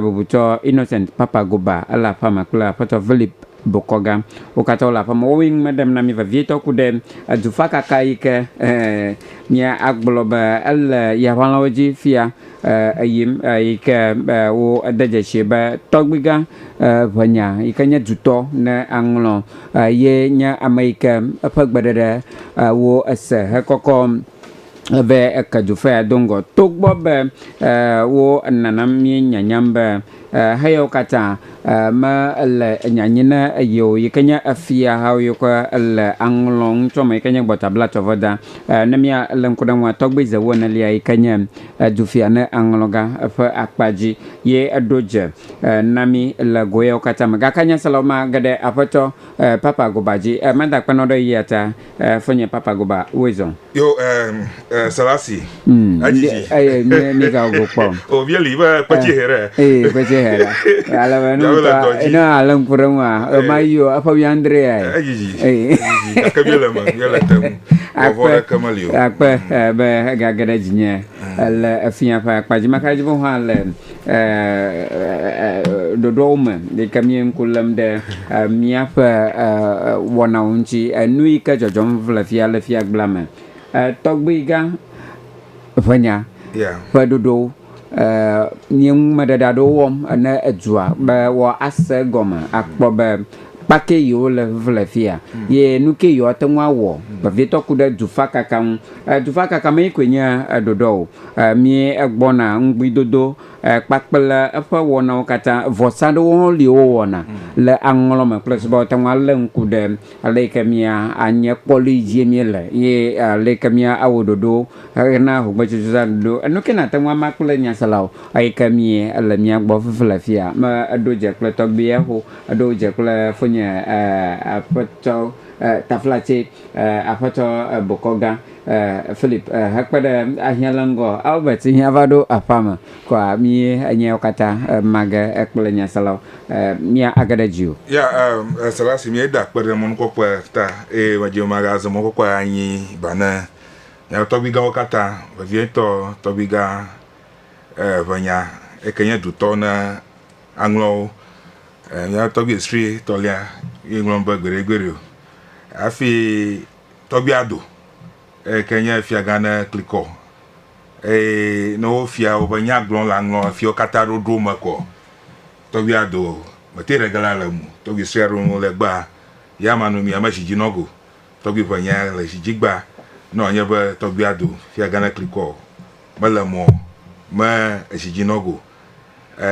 bubutɔ Innocent Papa Goba ele aƒea me kple Aƒetɔ Villip Bokɔ ga. Wo katã wole aƒea me. Wowoe ŋume ɖem na mí vevietɔ ku ɖe edufakaka yi ke mía agblɔ be ele yaʋalawo dzi fia eyim yi ke wo ede dzesi be tɔgbigã ʋenya yi ke nye dutɔ ne aŋlɔ Ye nye ame yi ke eƒe gbeɖeɖe wo ese hekɔkɔ ve eke dufea do ŋgɔ. Togbɔ be wo nana míenyanyam be heyawo katã mele nyanyi na ye o, yi ke nye efiahawo yi ke le aŋlɔ ŋutsɔ me yi ke nye gbɔtablatsɔveda. Ne míalé ŋku ɖe eŋua, tɔgbizewo enelia yi ke nye Edufia ne aŋlɔ gã eƒe akpa dzi, ye eɖo dze na mí le go yawo katã me. Gake nyaselawo ma ge ɖe Aƒetɔ Papa Goba dzi. Mada kpenɔ ɖe yia ta, Foinye Papa Goba. Woe zɔ. Yo eh Selasi adzi dzi. Eye mi mi ga go kpɔ. O vie li be kpetsi he ɖe. Eye kpetsi he ɖe. Ale be nu ta ina ale ŋku ɖe ŋu a. Ema yio eƒe wi andre ya. Adzi dzi. Eye. Gake vie le me, vie le te ŋu. Akpe, ɖeke meli o. Akpe eh, be egage ɖe dzinye eh, le efia ƒe akpa dzi. Maka dzi hã le ɖoɖoawo me yi ke mie ŋku lém ɖe míaƒe wɔnawo ŋuti, enu yi ke dzɔdzɔm le fia le fiagblea me. Tɔgbuigã ʋe nya ƒe ɖoɖowo. nye numeɖeɖe aɖewo wɔm ne edua be woase egɔme akpɔ be kpake yewo le ʋuʋu le fi ya ye nu ke yewo ate ŋu awɔ vevietɔ ku ɖe dufakaka ŋu. Dufakaka mee koe nye ɖoɖoa o. Míegbɔna ŋugbidodo kpakple eƒe wɔnawo katã. Vɔsa aɖewo hã li wowɔna le aŋlɔ me kple sube woate ŋu alé ŋku ɖe ale yi ke mía anye kpɔ ɖi dzie míele ye ale yi ke míawɔ ɖoɖo. Hena hogbetutu zã ɖoɖo. Enu ke nàte ŋu ama kple nyaselawo. Eyi ke mí ele mía gbɔ fifi le fia. Me eɖo dze kple tɔgbuiɛ ho. Eɖo dze kple fonye e aƒetɔ e taflatse e aƒetɔ e bokɔ gã e Philip e hekpe ɖe ahiã le ŋgɔ Albert hiã va ɖo aƒea me kɔa mí enyaɛwo katã e ma ge e kple nyaselawo e mía age ɖe dzi o. Ya e e sela si mí eda kpe ɖe mɔnukpɔkpɔɛ ta eye medzi be maga ze mɔnukpɔkpɔɛ anyi ba ne Miawo tɔgbuigãwo katã, vevietɔ tɔgbuigã evelia, eke nye dutɔ ne aŋlɔ wo. Mía tɔgbui esprit tɔlia, ye ŋlɔ nu be gbeɖegbeɖe o. Hafi tɔgbui ado, eyi ke nye fiagã ne klikɔ eye ne wofia woƒe nyagblɔ le aŋlɔ efiawo katã ɖoɖo me ko tɔgbui ado mete ɖe ge la le ŋu. Tɔgbui sue aɖewo le egbea, ya manɔ mi, ya mezi dzi nɔ ge o. Tɔgbui ƒe nya le zi dzigba nɔ enye be tɔgbuia do fia gã ne klikɔ o, mele mɔ me ezi dzi nɔ go. E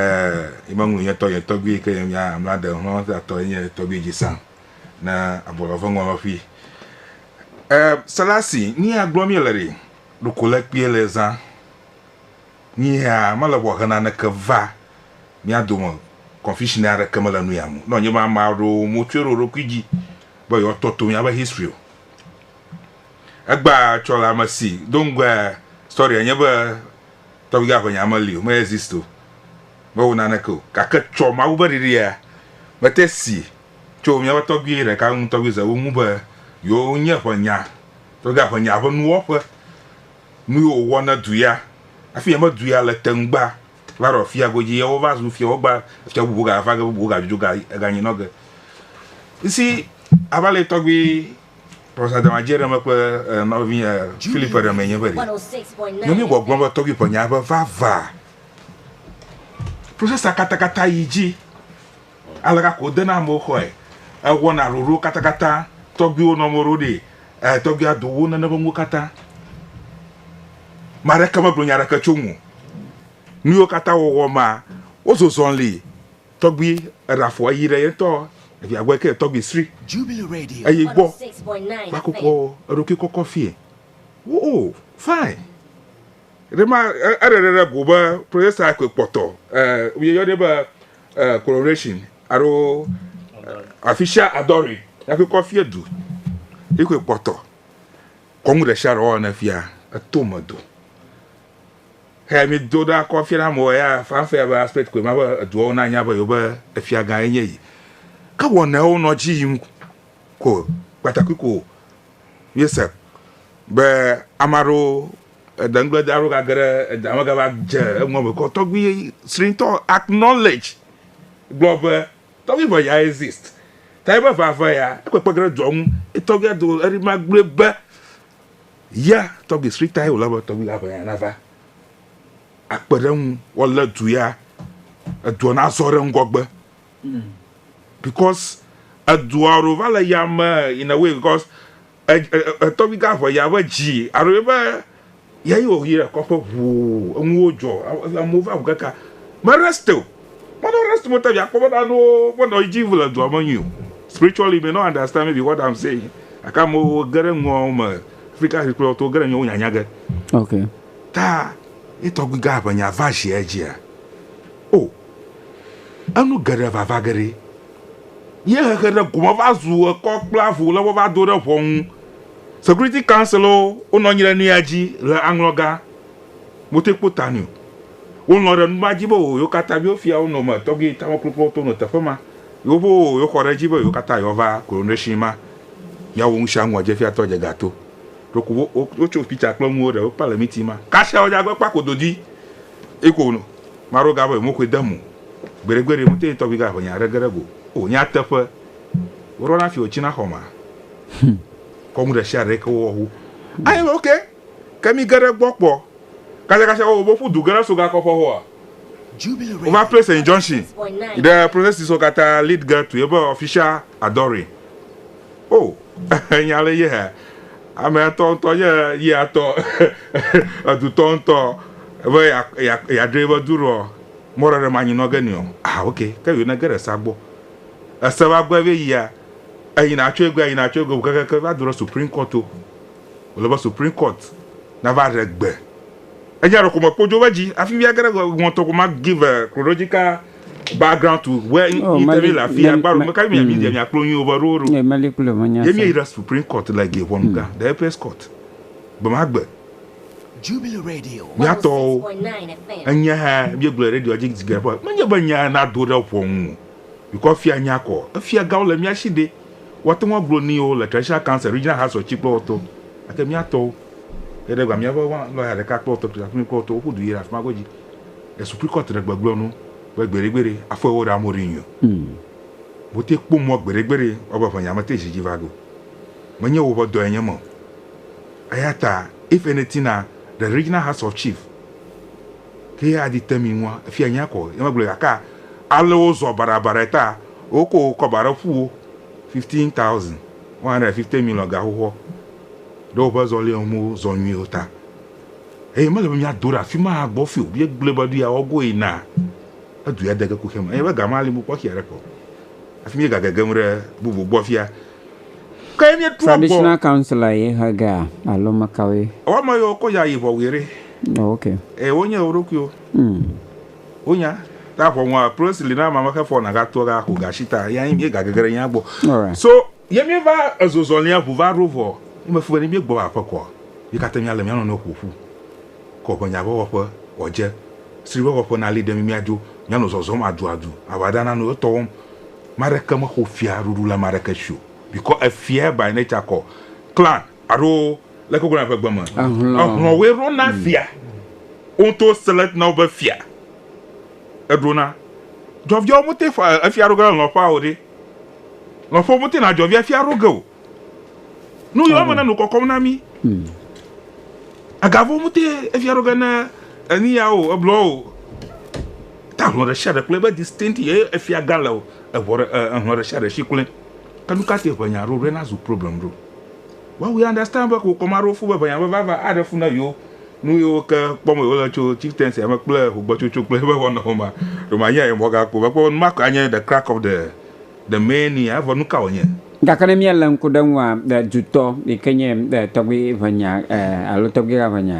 yi me ŋlu nye tɔ nye tɔgbui yi ke nye mia mla ɖe ŋlɔ da tɔ enye tɔgbui dzi sã ne abɔ lɔ ƒe ŋɔlɔ ƒi. E selasi ni a gblɔ mi le ɖe ɖoko le kpie le zã ni hea mele bɔ hena ne ke va mia do me confusion a ɖe ke mele nu ya mu nɔ nye be ama ɖo mo tsue ɖo ɖokui dzi be yewoa tɔ to míaƒe history o. Egbea tsɔ le ame si do ŋgɔe story enye be tɔgbigã aʋenya meli o, me exist o, mewɔ naneke o. Gake tsɔ Mawu ƒe ɖiɖia mete si tso míaƒe tɔgbui ɖeka ŋu, tɔgbui Zewu ŋu be yewo nye ʋenya, tɔgbigã aʋenya ƒe nuwɔƒe, nu yiwo wòwɔ ne du ya, hafi yemedui ya le te ŋugba Va ɖɔ fia godzi ye wo va zu fia wo gba fia bubu ga va ge bubu ga dzudzo ga ga nyi nɔ ge. Isi a va le tɔgbi pɔsa dama je ɖe me kple eh, nɔvi eh, Philip ɖe me nye be ɖe. Ne mi gbɔ gblɔ be tɔgbi pɔ nya be va va. Process a kata kata yi dzi. Aleka ko wodena amewo xɔe, ewɔna ɖoɖowo katakata, tɔgbuiwo nɔ amewo ɖo ɖi, e tɔgbuia do wo nene ƒe nuwo katã. Mea ɖeke megblɔ nya ɖeke tso ŋu. Nuyiwo katã wɔwɔ ma, wozozɔ li. Tɔgbui eɖa fɔ eyi ɖe yentɔ evia gbɔ yike tɔgbui sri eyi gbɔ va kukɔ eɖokui kɔkɔ fie. Wo o fine. Ɖema eɖe ɖe ɖe go be protesta koe kpɔtɔ e woyɔnɛ be eh, coronation alo official adore yake kɔ fia du yake kpɔtɔ kɔnu ɖe sia ɖe wɔwɔ ne fia eto me do he mi do ɖa kɔ fia na mo ya fanfɛ ya be aspect koe ma be eduawo na nya be yo be efia gã enye yi ke wɔnawo nɔ dzi yim ko kpatakui ko Míese be ame aɖewo eda nu gblẽ de aɖewo gage ɖe eda me gava dze eŋu eme ke tɔgbi srĩtɔ acknowledge gblɔ be tɔgbi ŋe ya exist ta ebe va ve ya ekpekpe ge ɖe dɔ ŋu tɔgbi ado eri ma gblɔe be ya tɔgbi srĩta ye wòle be tɔgbi la ŋe ya nava akpe ɖe eŋu woalé du ya edua nazɔ ɖe ŋgɔgbe because edua ɖo va le yame in a way because etɔgbi ga ʋe ya ƒe dzi aɖo ye be ya yi wɔ yi ɖe kɔƒe ʋuu enuwo dzɔ amewo va ʋu kaka me rest o mɔdɔ rest mo tɛbi akpɔ be ɖaɖo ƒe nɔ dzi ʋu le dua me nyui o spiritually may not understand maybe what I'm saying aka amewo ge ɖe nua me Afrika si kple to ge ɖe nyawo nyanya ge okay ta etɔgbi ga ʋe nya va zi edzia oh Enu geɖe va va ge ɖe ye xexe ɖe gome va zu ekɔ kple avu le wova do ɖe ʋɔnu. Security Council wo wo nɔ anyi ɖe nuya dzi le aŋlɔ ga mo te kpo ta nio. Wo lɔ ɖe numa dzi be o yo kata yo fia wo nɔ me tɔgui tame klo klo to nɔ teƒe ma. Yo ƒe o yo xɔ ɖe dzi be yo kata yo va coronation ma ya wo nusia nua dze fia tɔ dze ga to. Ɖo ku wo wo tso picture kple nuwo ɖe wo kpa le meeting ma. Kasia wo dza gbe kpa ko dodi eko no. Maro ga be mokoe de mo. Gbeɖe gbeɖe mo te tɔgbi ga ʋe nya ɖe geɖe go o. Nya teƒe. Wo ɖɔ na fi wo tsi na xɔ ma. Kɔ nu ɖe shia ɖe ke wo wɔ hu. Aye be ok ke mi geɖe gbɔ kpɔ. Kasia kasia wo bo ƒu du geɖe so ga kɔ ƒe ho a. Wo va place injunction ɖe processes wo kata lead girl to ye be official adoring. O! Nya le yea? Amea tɔ ŋutɔ nye yea tɔ. Edu tɔ ŋutɔ be yeaɖe eƒe du ɖoa, mɔ ɖe ɖe manyi nɔ ge nɛ o. Aa ok, ke yio nege ɖe esea gbɔ. Ese va gbɔe be yia, eyina tso egbea, yina tso egbea kekeake va do ɖe Supreme Court to. Wòle be Supreme Court nava ɖe gbe. Enya ɖeko mekpodzo be dzi. Hafi mía ge ɖe ŋɔtɔ ko ma give chronological background to where oh, interview la fi agbaro me ka mi mi dia mi akplo yin over roro ye mali kulo mo nya ye mi ira supreme court la ge won ga the apex court be ma gbe Jubilee Radio. Miato enya ha bi gblɔ radio dzi dzi gɛrɛ fɔ. Menye be nya na do ɖe ƒɔnu. Bikɔ fia nya kɔ. Efia gawo le mia si de. Wɔte ŋu agblɔ ni o le traditional council regional house of chief kple wɔtɔ. Ake miatɔ. Eɖe gba miaƒe lɔya ɖeka kple wɔtɔ kple wɔtɔ woƒu du yi ɖe afima godzi. Le Supreme Court ɖe gbegblɔ nu be gbeɖegbeɖe afɔ ewo ɖe amewo ɖe nyui o. Wo te kpɔ mɔ gbeɖegbeɖe woa be ʋenyame te zi dzi va go. Me nye woƒe dɔ ye nye me o. Eya ta if anything na the Regional House of Chief ke ye adi te mi ŋua efia nya kɔ ye me gblɔ gake ale wo zɔ baɖa baɖa ta wo ko kɔ ba ɖe ƒu wo fifteen thousand one hundred and fifty million ga xoxoa ɖe woƒe zɔlia me wo zɔ nyui o ta. Eye mele be míado ɖe afi ma agbɔ fi o, míegblɔe be ɖoya woagoe na edu ya dege kuxia me, eye be gama ali mukpɔxi aɖeke o, hafi míegagegem ɖe bubu gbɔ fia. Ke ye míetrɔ gbɔ. Traditional councilor ye he ge a alo mekawoe? Woame yewo kɔ ya yi ʋɔwuie ɖe. Oh ok. Eye wo nye wo ɖokuiwo. Mm. Wo nya. Ta ʋɔnua, plosi li na ame amexe fɔ na ga toa ga xo ga shi ta, ya yi mi ga gege ɖe nya gbɔ. Alright. So Ye míeva ezozɔlia ŋu va ɖo vɔ. Nye mefu be ne míegbɔ va aƒe koa, mí katã míalé mía nɔnɔewo ƒo ƒu kɔ ƒe nya ƒe wɔƒe wòadze. Sri be wɔƒe nali ɖe mí míadzo, míanɔ zɔzɔm aduadu, aʋada nano etɔ wɔm. Ame aɖeke mexɔ fia ɖuɖu le ame aɖeke si o, bikɔ efia by nature kɔ clan alo leke wogblɔna ƒe gbe me. Ehlɔ̃woe ɖona fia. Wo ŋutɔwo select na wo be fia. Eɖona. Djɔviawo mete ŋu fɔ efia ɖo ge le hlɔ̃ƒea o ɖe. Lɔƒo mete na dzɔvia fia ɖo ge o. Nu yɔ me na nu kɔkɔm na mi. Agavo mete efia ɖo ge na eni ya o, eblɔ o. Ta hlɔ ɖe sia ɖe kple ebe distinct ye efia ga le o. Eʋɔ ɖe ehlɔ ɖe sia ɖe si kple. Ke nu ka te ʋe nya ɖo ɖe na zu problem ɖo? While we understand be wokɔ ame aɖewo fu be ʋenyagblɔ vava aɖe fu na yewo, nu yiwo ke kpɔm wòle wole tso chieftaincy-a me kple ʋugbɔtsotso kple eƒe wɔnawo mea, ɖe manye aye mɔga kpɔ o? Mekpɔe be nu ma koe anye the crack of the the main nia, evɔ nu ka wònye? Gake ne míalé ŋku ɖe eŋua, dutɔ yi ke nye tɔgbui ʋenya alo tɔgbuiha ʋenya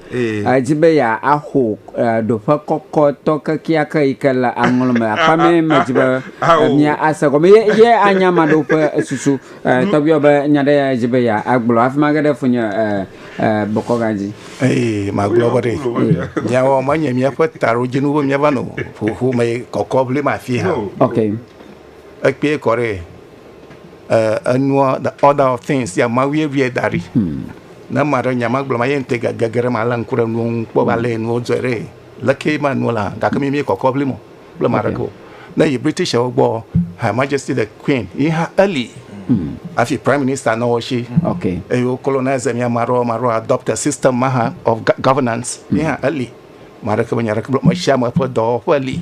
Edi be yeaxo ɖoƒe kɔkɔtɔ kekeake yi ke le aŋlɔ me. Akpa mɛ medzi be mia ase gɔme ye ye anya ame aɖewo ƒe susu. Tɔgbuiwɔ be nya ɖe ya edzi be ya agblɔ hafi ma ge ɖe funye bɔkɔ gã dzi. Eye magblɔ be ɖe miawo menye miaƒe taɖodzinu be miava nɔ ƒome kɔkɔ ʋlim afi hã. Ekpee kɔ ɖe. eh, enua, the order of things, ya ma wie wie da ɖi. Hmm. Ne ma ɖe nya ma gblɔ ma ye ŋute gege ɖe ma le ŋku ɖe nuwo ŋu kpɔ ba le nuwo dzɔe ɖe. Leke ma nuwo la, gake mi mi kɔkɔ bli mo kple ma ɖe ko. Ne yi British wo gbɔ, Her Majesty the Queen, yi ha early. Hmm. Afi Prime Minister na wo shi. Okay. Eyo colonize mi ma ɖo ma ɖo adopt a system ma ha of governance. Yi ha early. Ame aɖeke menya aɖeke gblɔ. Ame sia ame ƒe dɔwɔƒe li.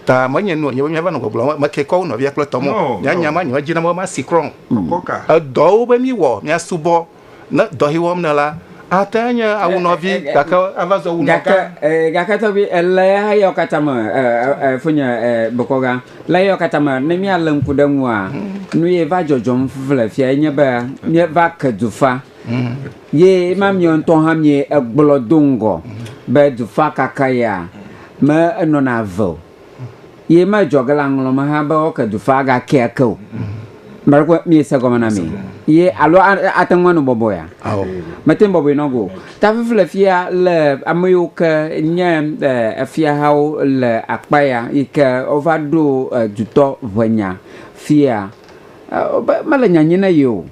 Ta menye nu wònye be míava nɔ gbɔgblɔm be meke kɔ wo nɔvia kple tɔm o. No, Mía no. nya ma nye medzi na be masi krɔ o. Kɔka. Edɔwo be míwɔ, míasubɔ, ne dɔ si wɔm nèla ate ŋu anye awu nɔvi Eh, eh, gake ava zɔ wu Gake, nɔgã. eh, gake tɔgbi, ele eyawo katã me, eh, eh, eh, fonye, eh, bokɔga, le eyawo katã me, ne míalé ŋku ɖe eŋua, nu ye va dzɔdzɔm le fiae nye be míeva ke dufa. Ye ma miɔ ŋutɔ hã mie egblɔ do ŋgɔ be dufã kaka ya me enɔna ve o. Ye ma edzɔ ge le aŋlɔ me hã be woke dufã aga ke ake o. Ame aɖe kpɔe mie se gɔme na mi ye alo ate ŋu ano bɔbɔe ya? Ao. Me te ŋu bɔbɔe nɔ go. Ta fifi le fia le ame yiwo ke nye efia hawo le akpa ya yi ke wova ɖo dutɔ ʋe nya fia. Wobe mele nya nyim ne yio.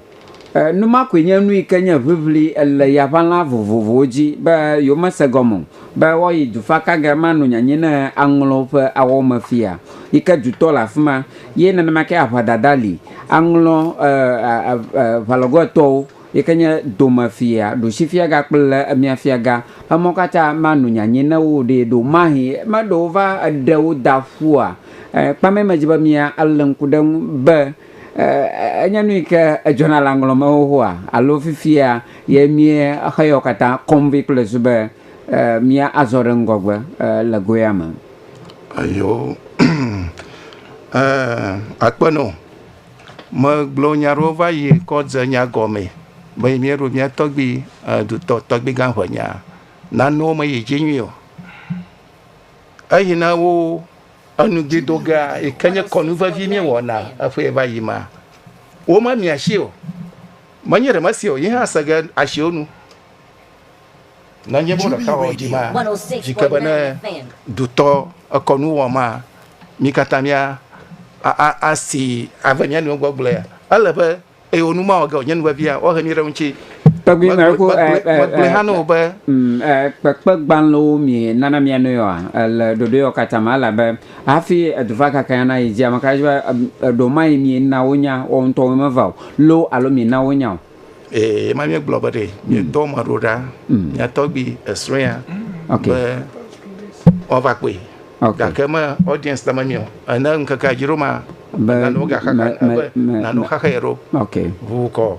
Nu ma koe nye nu yi ke nye ʋiʋli le yaʋalã vovovowo dzi be yewomese gɔme o, be woayi dufakagɛ ma nu nyanyi ne aŋlɔ ƒe awɔwo me fia, yi ke dutɔ le afi ma, ye nenema ke aʋadada li, aŋlɔ ʋalɔgoetɔwo, yi ke nye domefia, ɖusifiaga kple miafiaga, emɔ katã ma nu nyanyi ne woɖee ɖo. Mahe meɖe wova ɖe wo da ƒua? Kpamɛ medzi be mia le ŋku ɖe eŋu be Enye nu yi ke edzɔna le aŋlɔ me xoxoa alo fifia ye míexe yawo katã kɔm vɛ kple zu be míazɔ ɖe ŋgɔgbe le goea me? Eyo, akpe nɔ. Megblɔ nya aɖewo va yi kɔ dze nya gɔmee be yi míeɖo mía tɔgbui dutɔ tɔgbuigã ŋenyaa, nanewo meyi dzi nyuie o. Eyi na wo Enu dzi dogea yi ke nye kɔnu vevi míewɔna eƒee va yi ma, womemia si o. Menye ɖe mese o, yi hã se ge asiwo nu. Nenye be ɖeka wɔ dzi ma, yi ke be ne dutɔ ekɔ nu wɔ ma, mí katã mía a a asi ave mía nɔewo gbɔ gblɔe. Ele be. eye wò nu mawɔ ge o, nye nu vevia, woahe mí ɖe eŋuti. Tɔgbi mɛ ko ɛ ɛ Megblɔe hã na wò be. ɛ kpekpegbalẽwo mi nana mia nɔe oa? Le ɖoɖoeɔ katã me, elabe hafi edu va kaka ya nayi dzi, ameka edze be eɖo maye mi na wonya woawo ŋutɔwoe meva o loo alo mi na wonya o? Ɛ ema mí gblɔ be ɖe mí dɔ ame aɖewo ɖa, mia tɔgbi esrɔ̃ ya, be woava kpɔe. Okay. Gake me audience la memio. Ene ŋkeke adzi ɖo ma. Be nanu gaxa me me me nanu xaxa ye ɖo. Okay. Ʋu kɔ.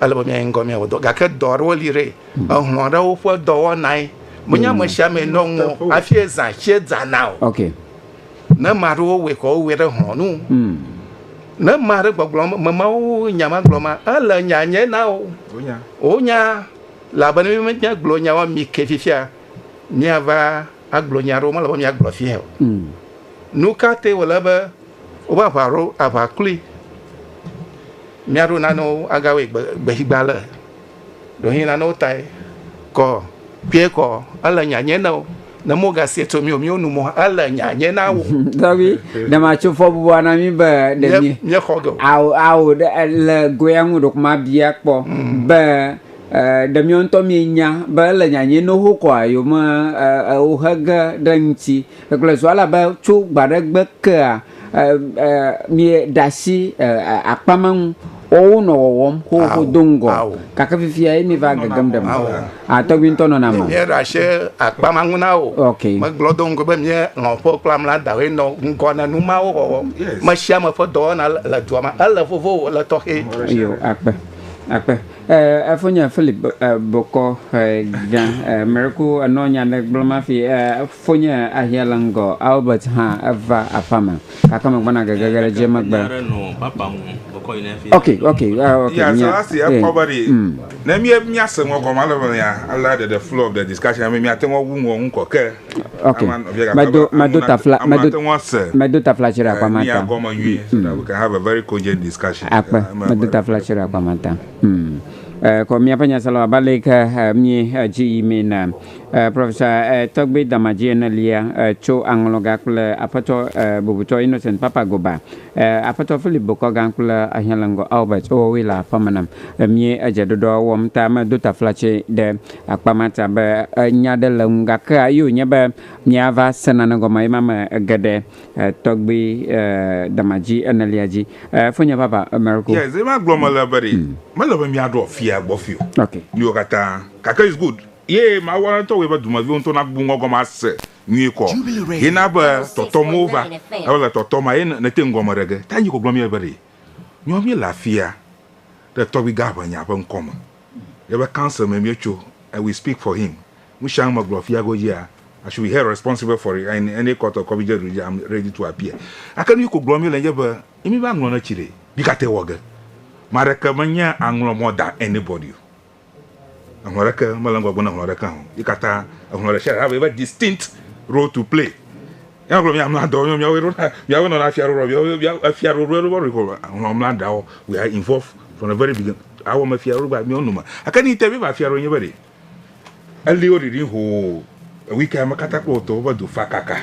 Ele be mia ŋgɔ mia wɔ dɔ. Gake dɔ aɖewo li re. Hmm. Ehlɔ aɖewo ƒe dɔwɔna ye. Menye hmm. ame sia ame nɔ ŋu afi eza tse dzana o. Okay. Ne ma ɖewo wɔ kɔ wɔ ɖe hlɔ nu. Hmm. Ne ma ɖe gbɔgblɔ me ma wo nya ma gblɔ ma ele nya nye na wo. Wonya. Wonya. Labene mi menye gblɔ nya wa mi ke fifia. míava agblɔ nya aɖewo mele be míagblɔ fiae o. Hmm. Nu ka te wòle be woƒe aʋa ɖo aʋa kloe? Míaɖo nanewo agawɔe gbexigba le ɖohi nanewo tae kɔ kpee kɔ ele nyanye na wo ne mogasie tso mí o míwo nu mɔ ele nyanye na wo. Tɔbi ne matso fɔbubua na mí be ɖe mí. Míexɔ ge o. Awo awo le goya ŋu ɖokuma bia kpɔ hmm. be. Ɖe miɔ ŋutɔ mienya be ele nyanye no ho kɔa yome ewo he ge ɖe ŋuti. Egblɔe zua la be tso gbaɖe gbe kea mi ɖe asi akpa ma ŋu wɔwo nɔ wɔwɔm xoxo do ŋgɔ. Gake fifia ye mi va gegem ɖe me. Atɔgbi ŋutɔ nɔna me. Mi ɖe asi akpa ma ŋu na wo. Ok. Me gblɔ do ŋgɔ be mi lɔ ƒe kple amla dawoe nɔ ŋgɔ ne nu ma wo wɔwɔ. Mesiame ƒe dɔwɔna le dua me. Ele vovo o, ele tɔxɛ. Eyɔ akpe, akpe. Eh, efonye Philip eh, Bokɔ eh, Gã eh, Miracle enɔ nya ɖe gblɔm afi eh, efonye ahia le ŋgɔ Albert hã eva aƒa me gake megbɔna gegege ɖe dzi megbe. Ok, ok, eh, ok. Yeah, so nya- that's the eh, ɛkɔ be ɖi mm. ne mía- míase ŋɔ gɔme ale be mía- alea ɖeɖe flow of the discussion be míate ŋu awu ŋɔ ŋu kɔ ke Ok, Ama- via gata medo be medo anu tafla nate- ama medo ate ŋu ase. medo tafla tsi ɖe akpa ma Mia ta. gɔme nyuie so that we can have a very cogent discussion. Akpe Eh, ema medo be- tafla tsi ɖe akpa ma ta. Hmm. Eh, Kɔ míaƒe nyasela abe ale yi ke eh, mí eh, dzi yi mee na eh, Professor eh, Tɔgbe Damadzi enelia eh, tso aŋlɔga kple Aƒetɔ eh, bubutɔ Innocent Papa Goba, eh, Aƒetɔ Philip Bokɔga kple Ahiãleŋgɔ Albert wowoe le aƒeme nam. Eh, Mí edzeɖoɖoa wɔm ta medo tafla tsi ɖe Akpa mata be nya ɖe le ŋu gake ayi wònye be míava se nane gɔme ema me ge ɖe tɔgbi damadzi enelia dzi. Fonye vava Mariko. Yes, ema gblɔ me le be ɖe mele be míaɖo afia gbɔ fi o. Ok. Míwo katã. Gake it's good ye Mawu ale ŋutɔ wɔe be dumeviwo ŋutɔ nagbubu ŋgɔ gɔme ase nyuie kɔ. Ye na be tɔtɔm wova. Eye wole tɔtɔm eye nete ŋu gɔme ɖe ge. Ta nyi ke wògblɔ mí le be ɖe nyo míele afia ɖe tɔgbi Gaʋenya ƒe ŋkɔ me. Yeƒe council me míetso and we speak for him. Nusianu megblɔ fia godzia, I should be held responsible for it in any court or community jurisdiction, I'm ready to appear. Gake nuyi ko gblɔm míele nye be, ne míeva ŋlɔ ne tsi ɖe, mí katã wɔ ge. Ame aɖeke menye aŋlɔ more than anybody o. Eŋlɔ aɖeke mele ŋgɔgbe ne eŋlɔ aɖeke hã o. Ye katã eŋlɔ ɖesiaɖe hã va be distinct role to play. Míagblɔ mía mla dɔ, míawo ɖo na míawo nɔna fia ɖoɖo míawo mía efia ɖoɖo ɖo bɔ ɖo nɔ mla dɔ. We are involved from the very beginning. Awɔ me fia ɖoɖo gba míawo noma. Ake ni te míeva fia ɖoɖo nye be ɖe eli wo ɖiɖi hoo ewike ame kata kple wotɔ woƒe du fa kaka.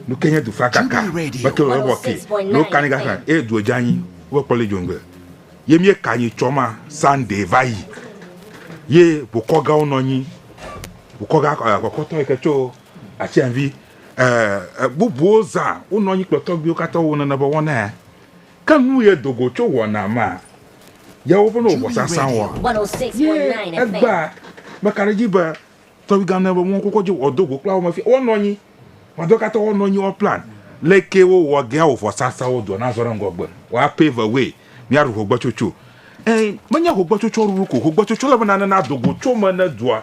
Nu ke nye du fa kaka. Meke wo wɔ ke. Lo kani gasa e du edza nyi wo kpɔ le jongbe. Ye mie ka nyi tsɔ ma Sunday va yi. Ye bokɔ ga wo nɔ nyi. Bokɔ ga akɔkɔ tɔ yi ke tso atsianvi. E, e, bubuwo zã wonɔ anyi kple tɔgbuiwo katã wo nene be wɔnae. Ke nu ye do go tso wɔna ma ye woƒe ne wòvɔsa sã wɔa? Ye egbea meka ɖe edzi be tɔgbuigã nene be wɔn kokɔ dzi wɔdo go kple awome fia wɔnɔ anyi. Wɔadɔ katã wɔnɔ anyi wɔ plan leke wowɔ gea wò vɔsa sã wɔ doa na zɔ ɖe ŋgɔgbe. Wɔa pay the way miaɖu hogbetsotso. E, menye hogbetsotsoa ɖuɖu ko, hogbetsotsoa le be nane na do go tso me ne doa.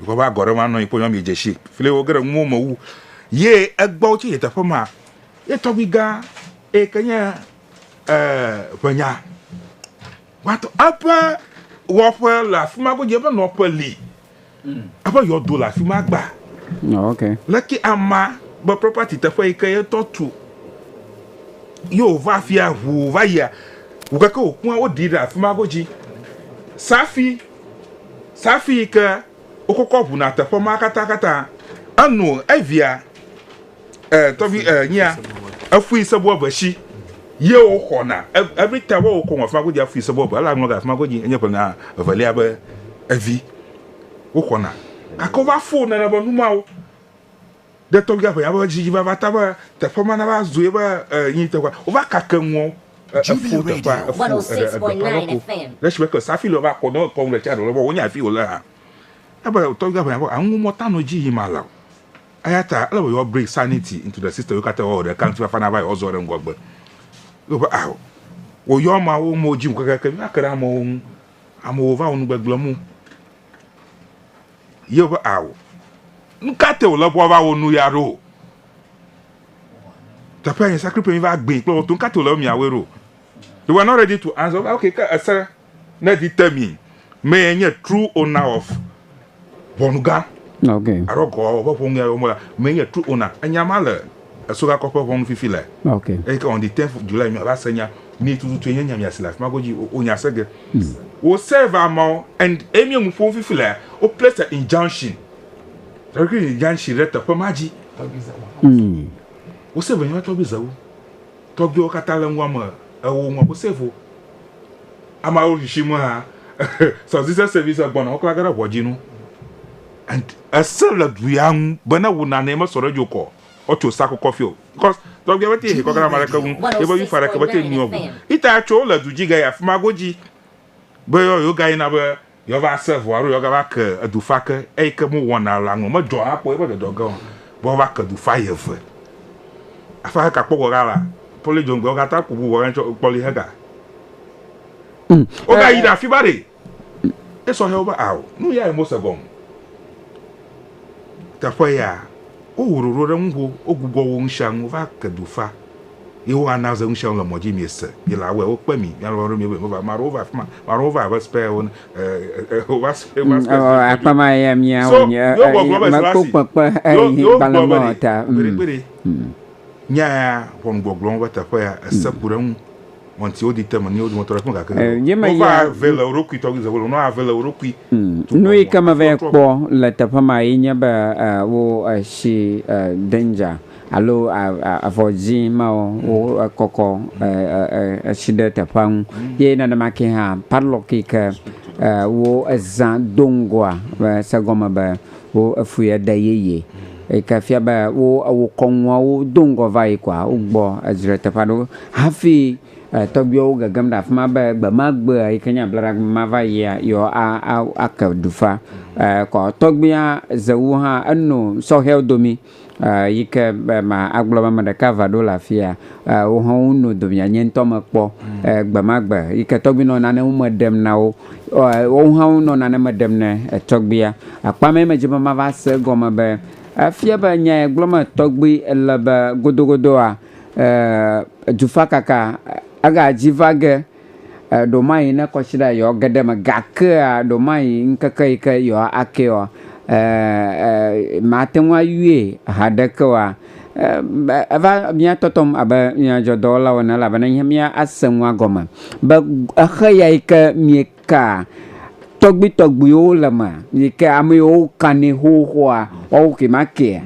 Dukɔ ƒe agɔ ɖe ma nɔ anyi kpɔ nyɔ mi dzesi fli wo gere nuwo me wu ye egbɔ tsi teƒe ma ye tɔgbi gã eye ke nye ʋenya gbãtɔ eƒe wɔƒe le afi ma godzi eƒe nɔƒe li eƒe yɔdo le afi ma gba okay. leke ama be property teƒe yi ke yetɔ tu ye wòva afia ʋu va yia wògake wòkua woɖi ɖe afi ma godzi safi Safi ke wokɔkɔ ʋuna teƒe ma katã katã enu evia e tɔvi e nyia efui sebo eve si ye woxɔna every time wo kɔ afima godzi afui sebo eve la ŋlɔ ga afima godzi enye ƒe nya evelia be evi woxɔna gake wova fo nana be numawo Ɖe tɔgbia ƒe yaƒe ƒe dzi va va ta be teƒe ma nava zu yeƒe yi teƒe wova kake nuɔ efu teƒe efu eɖe eɖe ƒe alɔ ko le esi be ke safi le va kɔ ne ekɔ ŋɖe tsia ɖe le be wonya fi wole hã ebe tɔgbia ƒe yaƒe anu mɔ ta nɔ dzi yi ma la o eya ta ele be yewoa bring sanity into the system yokata wɔ ɖeka ŋuti fafa nava yi wɔ zɔ ɖe ŋgɔgbe yo be aho wo yɔ ma wo mo dzi ŋu keke ke mi va ke ɖe amewo ŋu amewo va wo nu gbegblem o Yehowa ƒe awu. Nu ka te wòle be woava wɔ nu ya ɖo? Teƒe nye sakre ƒe miva gbee kple wɔto. Nu ka te wòle be miawɔe ɖo? They were not ready to answer. Wova, okay, ke ese ne di te mi mee nye true owner of ʋɔnugã. Okay. Alo gɔ ƒe ƒonuya wɔm la mee nye true owner. Enya ma le. Eso gakɔ ƒe ʋɔnu fifi le. Okay. Eyi ke on the 10th of July miava se nya ni tututu enye nya miasi le afima godzi o nya se ge. Wo serve amawo and eyi mi nu ƒom fifi le wo place a injunction. Tɔgbi zawo. Injunction ɖe teƒe ma dzi. Tɔgbi zawo. Mm. Wo serve nya tɔgbi zawo. Tɔgbi wo kata le nua me ewo nua wo serve. Amawo shishi mu ha. Sɔzise service gbɔna wo kla ge ɖe ʋɔdzi nu. And ese le du ya ŋu be ne wò nanee mesɔ ɖe dzookɔ o, woatso sa kɔkɔ fiɔ o. Because tɔgbia bete yehekɔ gana ame ɖeke ŋu ye be yufa ɖeke bete nuiɔ ŋu. Ita ya tso wole du dzi gayi afima godzi be yɔ yewo ga yina be yɔ va se ŋu alo yɔ ga va ke edu fa ke. Eyi ke me wɔna la ŋlɔ medzɔ ha kpɔ yebe dɔdɔ ge o be wova ke du fa yeve. Afa heka kpɔ gɔga la poli dzoŋgbe wo gata ku bu bɔga tsɔ kpɔli hega. Wo ga yi ɖe afima ɖe. Esɔ hɛ wo be ao, nu yae Mose gɔm. Teƒe ya, wo ho ɖoɖo ɖe ŋuho, wo gugɔ wo ŋshiaŋ, wo va ke du fa. Ye wo ana ze ŋshiaŋ le mɔ dzi, mie se, mi la wɛ, wo kpe mi, mia lɔlɔ ɖe mi be mi va. Maɖe wo va afima, maɖe wo va abe spɛ wo ne, e, e, e, wo va spɛ, va spɛ se ŋkɔ djo. So, yo gɔ gblɔ be Selasi, yo, yo gblɔ be ɖe, gbeɖe gbeɖe, nya ya, ʋɔnu gbɔgblɔ wo be teƒe ya, ese ku ɖe ŋu. Nu yi ke meva kpɔ le teƒe ma ye nye be wo si danger alo avɔ dzi ma wo kɔkɔ si ɖe teƒe nu ye nenema ke hã padlock yi ke wo za do ŋgɔa se gɔme be Wo efui ede yeye. Eyike fia be wo ewo kɔŋua wo do ŋgɔ vayi kɔa wo gbɔ edzre teƒe aɖe wo hafi tɔgbuiwo wo gegem ɖe afima be gbe ma gbea yike nye ablaɖa gbe ma va yia yewo a a ake ɖufa. Kɔ tɔgbuia ze wu hã eno sɔhɛwo domi. Eyi ke ma agblɔ be ame ɖeka va ɖo le afia, wohã wonɔ domea nye ŋutɔ mekpɔ gbemagbe yi ke tɔgbi nɔ nane me ɖem na wo. Woawo hã wonɔ nane me ɖem ne tɔgbia. Akpa mɛ medzi be mava se egɔme be efia be nya ye gblɔm tɔgbi le be godogodoa, dufakaka egadzi va ge. Ɖewomayi ne kɔsiɖa yewoage ɖe eme gakea ɖewomayi ŋkeke yi ke yewoakee oa, màte ŋu ayɔe haɖeke oa, eva mía tɔtɔm abe nyadzɔdzɔdɔwɔlawo ene elabena nye mía ase nua gɔme be exe ya yi ke miekaa tɔgbuitɔgbuiwo le eme yi ke ame yiwo kanɛ xoxoa, woawo ke ma kea?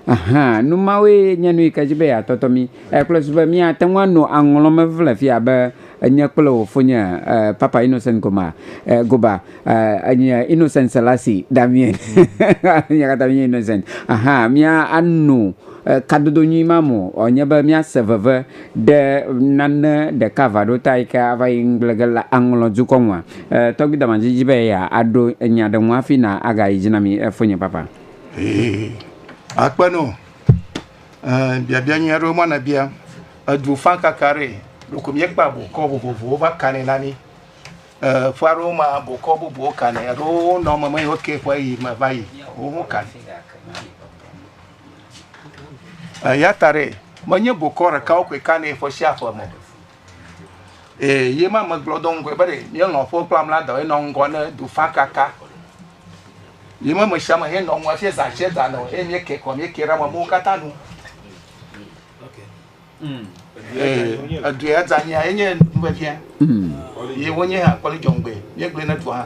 Ahan, nu mawoe nye nu yi ke dzi be yeatɔtɔ mí. Ekplɔe zu be míate ŋu ano aŋlɔ me vevie le afi ya be nye kple wò fonye eh, Papa Innocent Goma, eh, Goba, eh, nye Innocent Selassie, Damien. Mía katã míenye Innocent. Ahan, mía ano eh, kadodo nyui ma me o. Ɔ, nye be míase veve ɖe nane ɖeka vaɖota yi ke ava yi ŋgble ge le aŋlɔ dukɔ ŋua. Eh, tɔgbui Damanji dzi be yeaɖo nya ɖe ŋu hafi na agayi dzi na mí, eh, fonye Papa. Ee, akpe no. Ɛɛ, biabia nyui aɖewo ma nabia. Edu fã kaka ɖe. Ɖeko míekpa bokɔ vovovowo va kanɛ na mí. Ɛɛ, ƒe aɖewo ma bokɔ bubuwo kanɛ. Eɖewo nɔ meme yi woke ƒe yi me va yi. Wo ho kanɛ. Eya ta ɖe, menye bokɔ ɖekawo koe kanɛ ƒe sia ƒe me o. Ee, ye ma megblɔ do ŋgɔe be ɖe míelɔ̃ ƒe kple amla dɔ enɔ ŋgɔ ne dufa kaka. Ye ma me sia me henɔ ŋgɔ hafi zã tse zã nɔ eye míeke kɔ míeke ɖe amewo katã nu. Ee, edua dzanyia enye nuvevia. Ye wonye hã kpɔli dzɔŋgbe míegblẽ ne dua hã.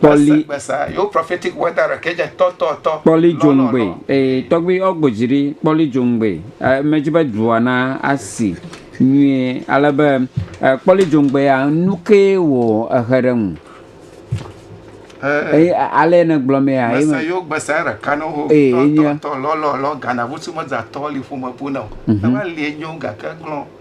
Kpɔli dzoŋgbe ee tɔgbi yɔ gbodzi ɖi kpɔli dzoŋgbe medzi be dua na asi nyuie ale be kpɔli dzoŋgbe ya nuke wò ehe ɖe ŋu eye ale ne gblɔ mee ya eye mese yo gbesa ɖeka no ho ee enye tɔ lɔlɔ lɔ gana vusu medzatɔ li ƒome bu na o eva li enyo gake glɔn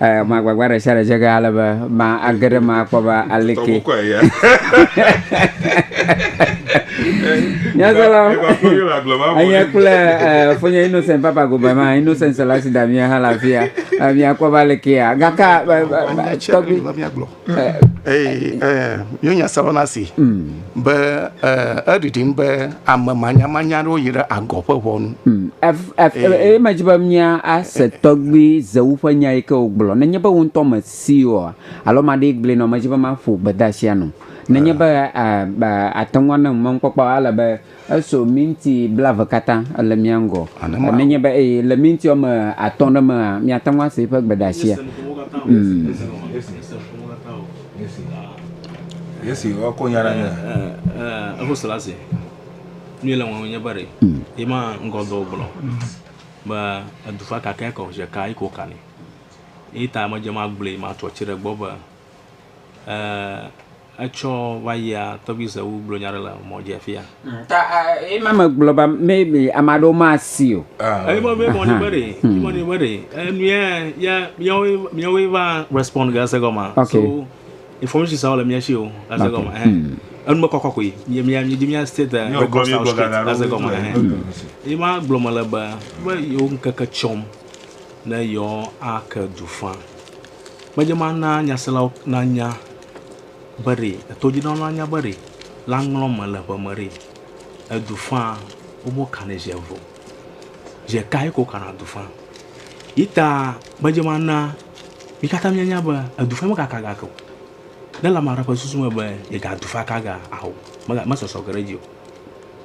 Ɛ, ƒe agbagba ɖe sia ɖe dze ge ale be ma age ɖe eme akpɔ be aleke. Tɔgbu kɔe ya. Nyaselawo, Eva kple Yola gblɔ ma vɔ. enye kple ɛ, Fonye Innocent Papa Gobe ma, Innocent Selasi Damien hã le afi ya. Ɛ, Miakpɔ be alekea. Gake, ɛ, ɛ, Nya ɛ, tsia tɔgbi. ɖe va míagblɔ. Mío nya sɛlɔ na si be eɖiɖim be ame manyamanya ɖewo yi ɖe agɔ ƒe ʋɔnu. Eye me dzi be mía ase tɔgbi zewu ƒe nya yi ke wògblɔ. Nenye be wò ŋutɔ me si oa, alo ma ɖee gblɔe nɔ, me dzi be ma ƒo gbedeasia nɔ. Nenye be ate ŋu ane ŋu mɔnukpɔkpɔ ele be. Eso minti blaeve katã le mía ŋgɔ. Nenye be eye le minti woame atɔ̃ ɖe mea, miate ŋu ase eƒe gbedeasia. Yesi wokɔ nya na nye. Eho sela ase. Nu le wɔm nye be ɖe. Ye ma ŋgɔ dɔ gblɔ. Be edu fa ka kɛ kɔ zeka yi ko kani. Ye ta me dze ma gblɔe ma tɔ tsi ɖe gbɔ be. Etsɔ va yia tɔgbi Zewu gblɔ nya ɖe le mɔ dzi afia. Ta ema megblɔ ba me be ame aɖewo masi o. Eyi mɔ be mɔ ni be ɖe, yi mɔ ni be ɖe, enuya ya miawo miawo va respond ga se gɔma. So information sa le mia shi o ga se gɔma. Enu me kɔkɔ koe. Mi mi mi di mia state record sa street ga se gɔma. Eyi ma gblɔ me le be be yo nkeke tsɔm ne yɔ ake du fa. Medze me na nyaselawo nanya be ɖe etodzinɔwo nanya be ɖe la ŋlɔm mele ƒe me ɖe edu faa wobe wo kanɛ zi eve o. Zi ɖeka ye ke wo kana du faa. Yi ta medze me na mi katã mia nya be edu faa me kaka ga ke o. Ne le ame aɖe ƒe susu me be yega du faa kaga ao me me sɔsɔ ge ɖe edzi o.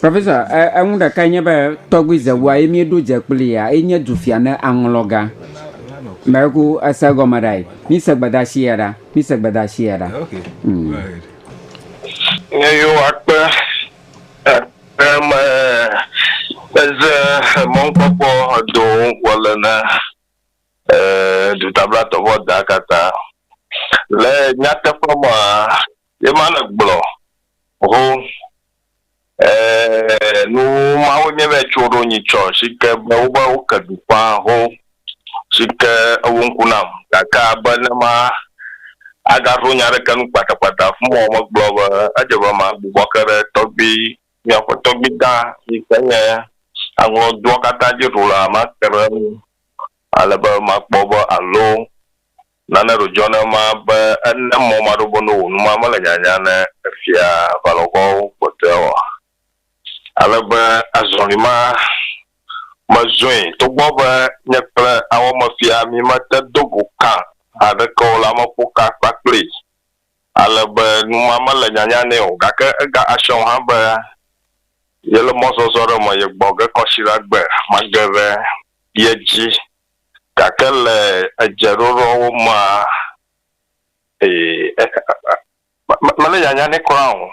Professor, eŋu ɖeka nye be tɔgbi zewua ye míeɖo dze kpli ya enye dufia ne aŋlɔ gã. Mɛku ese gɔme ɖa yi. Mi se gbedasi ya ɖa. Mi se gbedasi ya ɖa. Okay. Mm. Go ahead. Ne yo akpe eme eze mɔnkpɔkpɔ do ŋkɔ le ne eh, dutablatɔvɔ da kata le nyateƒe ma Ye ma le gblɔ ho eh nu mawo nye be tso ɖo nyi tsɔ si ke be wo be wo ke dukɔa ho si ke ewo ŋku nam gake abe ne ma a ga ɖo nya ɖeke nu kpata kpata fun mɔ me gblɔ be edze be ma gbubɔ ke ɖe tɔgbui mia ƒe tɔgbui gã si ke nye aŋlɔ dua kata dzi ɖo la ma ke ɖe enu ale be ma kpɔ be alo Nane ɖo dzɔna ema be ene mɔ maɖobo no wò numa mele nyanya ne efia aʋalɔgoawo kpɔtɔea oa? Ale be azɔli ma mezɔe. Togbɔ be nye kple awɔmefia mímete do go kã haɖeke o la, meƒo ka akpa kplii ale be numa mele nyanya nɛ o. Gake ega asɔ ŋu hã be yele mɔzɔzɔ ɖe me ye gbɔ ge kɔsiɖagbe mage ɖe ye dzi. Gake le edzeɖoɖoawo mea, ee, mele nyanya nɛ kura o.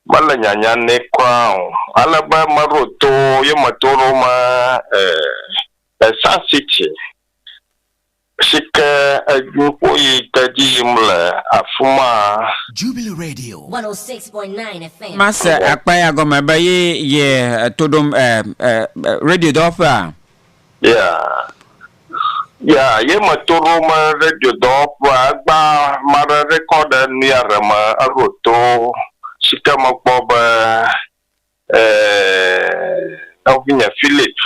Mele nyanya nɛ kura o. Ale be meɖo to ye me to ɖo me, ee, Sun City si ke nuƒo yi ke edzi yim le afi maa. Jubilee Radio 106.9 FM. Ma se akpa ya gɔme be ye ye to ɖom eh eh eh radio dɔwɔƒea? Ya ye me to ɖo me radio dɔwɔƒea egba ma ɖe record nuya ɖe me eɖo to sike me kpɔ be nɔvinye Philip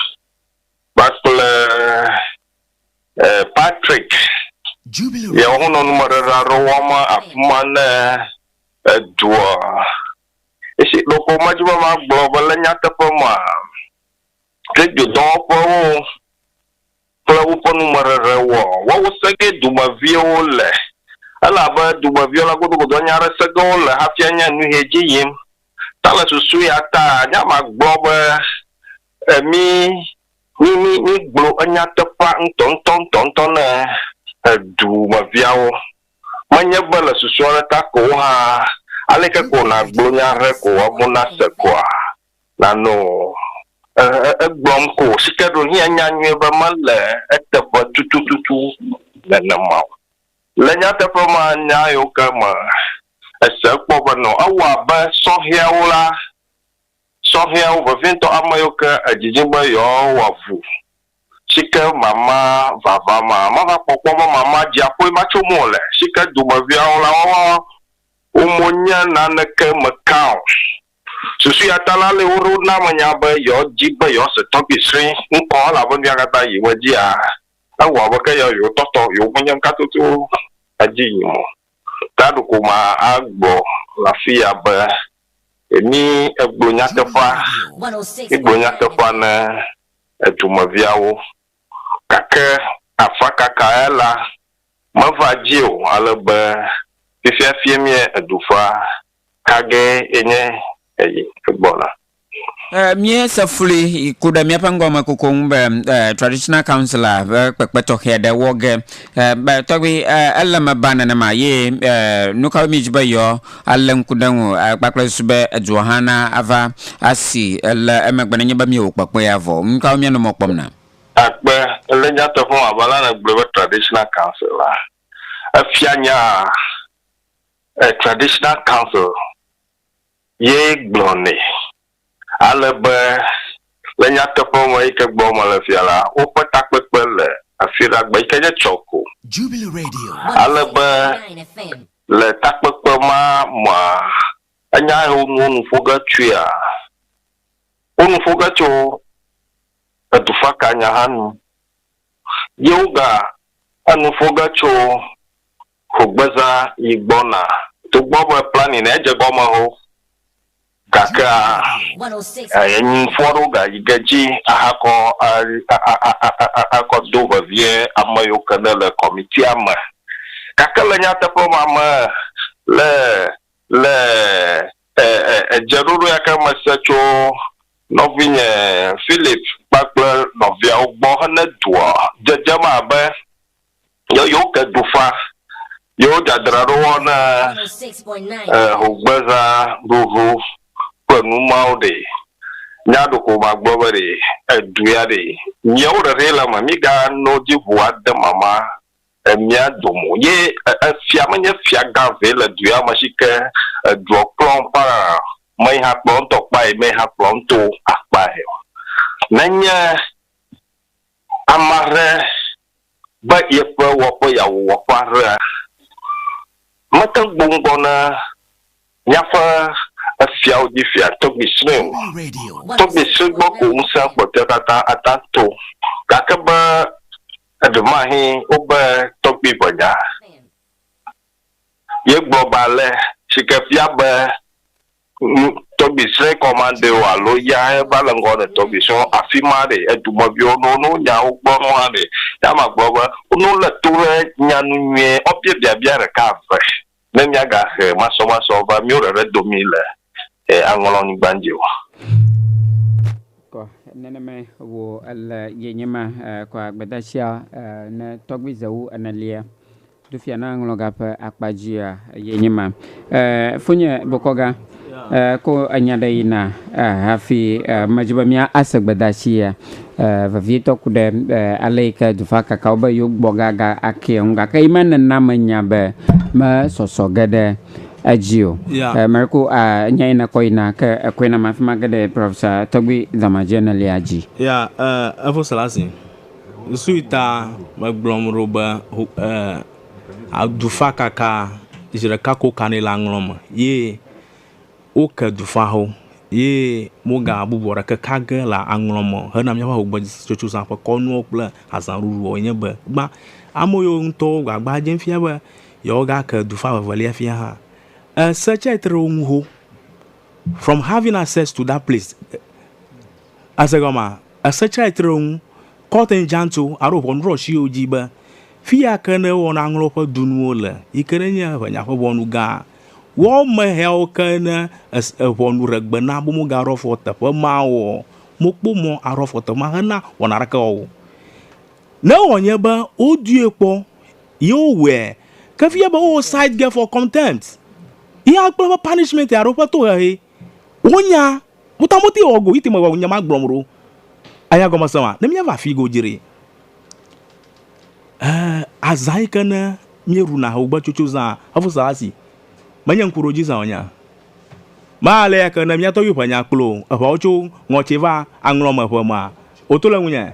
kpakple Patrick ya wo nɔ nume ɖeɖe aɖe wɔm afima ne edua esi ɖeko me dzi be ma gblɔ be le nyateƒe mea Kedzodɔwɔƒewo kple woƒe numeɖeɖe wɔ woawo se ge dumeviwo le, elabe dumeviwo la godogodoa nya ɖe se ge wole hafi anya nu he dzi yim. Ta le susu ya ta nya ma gblɔ be mi mi mi mi gblɔ enyateƒea ŋutɔ ŋutɔ ŋutɔ ŋutɔ ne edumeviawo. Menye be le susu aɖe ta ko wo hã aleke ko na gblɔ nya ɖe ko woawo na se koa? Nanɔ o. E, e, egblɔm ko sike ɖo hia nya nyuie be mele eteƒe tutututu nenema o. Le nyateƒe me nya yiwo ke me ese kpɔ be nɔ ewɔ abe sɔhɛawo la, sɔhɛawo vevietɔ ame yiwo ke edidi be yewoawɔ avu sike mama vava ma, mava kpɔ kpɔ be mama dziaƒoe ma tso mo le, sike dumeviawo la, woawo mo nye naneke me kã o. Susua ta la le woɖo na me nya be yɔ dzi be yɔ se tɔgbi sri ŋkɔ elabe mia kata yi we dzi a ewɔ be ke yɔ yɔ tɔtɔ yɔ me nye ŋka toto edzi yi mo. Ta ɖo ko ma a gblɔ le afi ya be emi egblɔ nyateƒea mi gblɔ nyateƒea ne edu me viawo gake afa kaka ya la me va dzi o alebe fifia fie mie edu ƒea Ka gee nye eyi gbɔna? Míese flui yi ku ɖe míaƒe ŋgɔme koko ŋu be Traditional Council a ƒe kpekpe tɔxɛ aɖe wɔ ge. Be tɔgbi, ele me ba nenema ye nukawoe míedi be yewoa alé ŋku ɖe eŋu kpakple susu be edua hã na ava asi le emegbe nenye be míewɔ kpekpe ya vɔ? Nukawo míanɔ mɔ kpɔm na? Akpe, le nyateƒe me abe ale nègblɔe be Traditional Council la, efia nyaa? A traditional council ye gblɔnɛ. Ale be le nyateƒe me yi ke gblɔm mele fia la, woƒe takpekpe le afi ɖagbe yi ke nye tsɔ ko. Ale be le takpekpe ma mea, enya yi wonuwo nu ƒo ge tsoea, wonu ƒo ge tso edufakanya hã nu. Ye woga enu ƒo ge tso Xogbeza yi gbɔna. Togbɔ be planning ne dze gɔme ho gakea, enyinfɔ ɖewo gayi ge dzi ahakɔ akɔ do vevie ame yiwo ke ne le kɔmitia me. Gake le nyateƒe ma me le le edzeɖoɖo ya ke mese tso nɔvinye Philip kpakple nɔviawo gbɔ hene doa, dzedzem abe Ye yewo ke dufa, yewo dzadzraɖo wɔna e hogbeza ɖuɖu kple nu mawo ɖe. Nya ɖeko magblɔ be ɖe edu ya ɖe miawo ɖeɖe le eme miga no dzi ʋu ade mama e mia dome o. Ye efia menye fia gã vɛ le du ya me shike edua kplɔ ŋkpaa me yi hã kplɔ ŋtɔ kpae me yi hã kplɔ ŋto akpae o. Nenye. Ame aɖe be yeƒe wɔƒe yeawɔ wɔƒe aɖea, mete ŋu gboŋ gbɔ na míaƒe efiawo dzi fia tɔgbui sue o. Tɔgbui sue gbɔ ko ŋusẽ kpɔtɔea katã ata to. Gake be eɖemahe wobe tɔgbui ʋe nya ye gblɔ be ale si ke fia be nu tɔgbi srɛ kɔmande o alo ya he va le ŋgɔ ne tɔgbi srɛ o afima ɖe edumɔ viwo no no nyawo gbɔ no hã ɖe ya ma gblɔ be no le to ɖe nya nu nyuie ɔ bia biabia ɖeka eve ne mia ga he masɔ masɔ va mio ɖeɖe domi le e aŋlɔ nyigban dzi o. Kɔ nenemae wo ele ye nyema kɔ agbedasia ne tɔgbi zewu ene lia. Ɖo fia na ŋlɔga ƒe akpa dzia ye nye ma. Eh, fonye bokɔga, eh, ko enya ɖe yi na, eh, hafi, eh, medzi be mía ase gbedatsi ya, eh, vevietɔ ku ɖe, eh, ale yi ke dufa kakawo be yewo gbɔ ga ga akea ŋu. Gake yi ma nena menya be me sɔsɔ ge ɖe edzi o. Yeah. Eh, Mariko, ah, enya yi na kɔ yi na, ke ekɔe na ma fima ge ɖe Professor Tɔgbi Dɔmadzi enelia dzi. Yeah, eh, Evo Selassie. Nusui ta megblɔm ɖo be ho e adufakaka zi ɖeka ko wokanɛ le aŋlɔ me ye woke dufawo ye wogabubɔ ɖeke ka ge le aŋlɔ me o hena míaƒe ŋugbedzitsotsoza ƒe kɔnuwo kple azaɖuɖuwo enye be gbã ame yiwo ŋutɔ wo gbagba dzem fia be yewoagake dufa vevelia fia hã. Ese tsɛ tre wo ŋu xoxo from having access to that place. Ese gɔmea? Esetrɛtrewo ŋu kɔtɛn djanto aro ʋɔnudrɔsiwo dji be, Fiya ke ne wɔna ŋlɔ ƒe dunuwo le, yi ke ne nye ʋenya ƒe ʋɔnu gã, wɔ me hɛawo ke ne es e ʋɔnu re gbe na bo moga ro fɔ teƒe ma wo ɔ, mo kpo mɔ aro fɔ teƒe ma he na wɔna ɖeke wɔ wo. Ne wɔ nye be wo due kpɔ yi wo wɔɛ, ke fiya be wo cite ge for contempt, yi a kple eƒe punishment aro eƒe tohehe, wo nya Mutamuti wɔ go yiti me wɔ nyama gblɔm ɖo. Anya gɔme se ma ne mía va fi go dzri. Ɛ azã yi ke ne mía ɖu na hogbe tsotso zã efu sa asi. Me nye ŋku ɖo dzi zã o nya. Ma ale ya ke ne mía tɔgbi ƒe nya kplo eƒeawo tso ŋɔtsi va aŋlɔ me ƒe ma o to le ŋunye.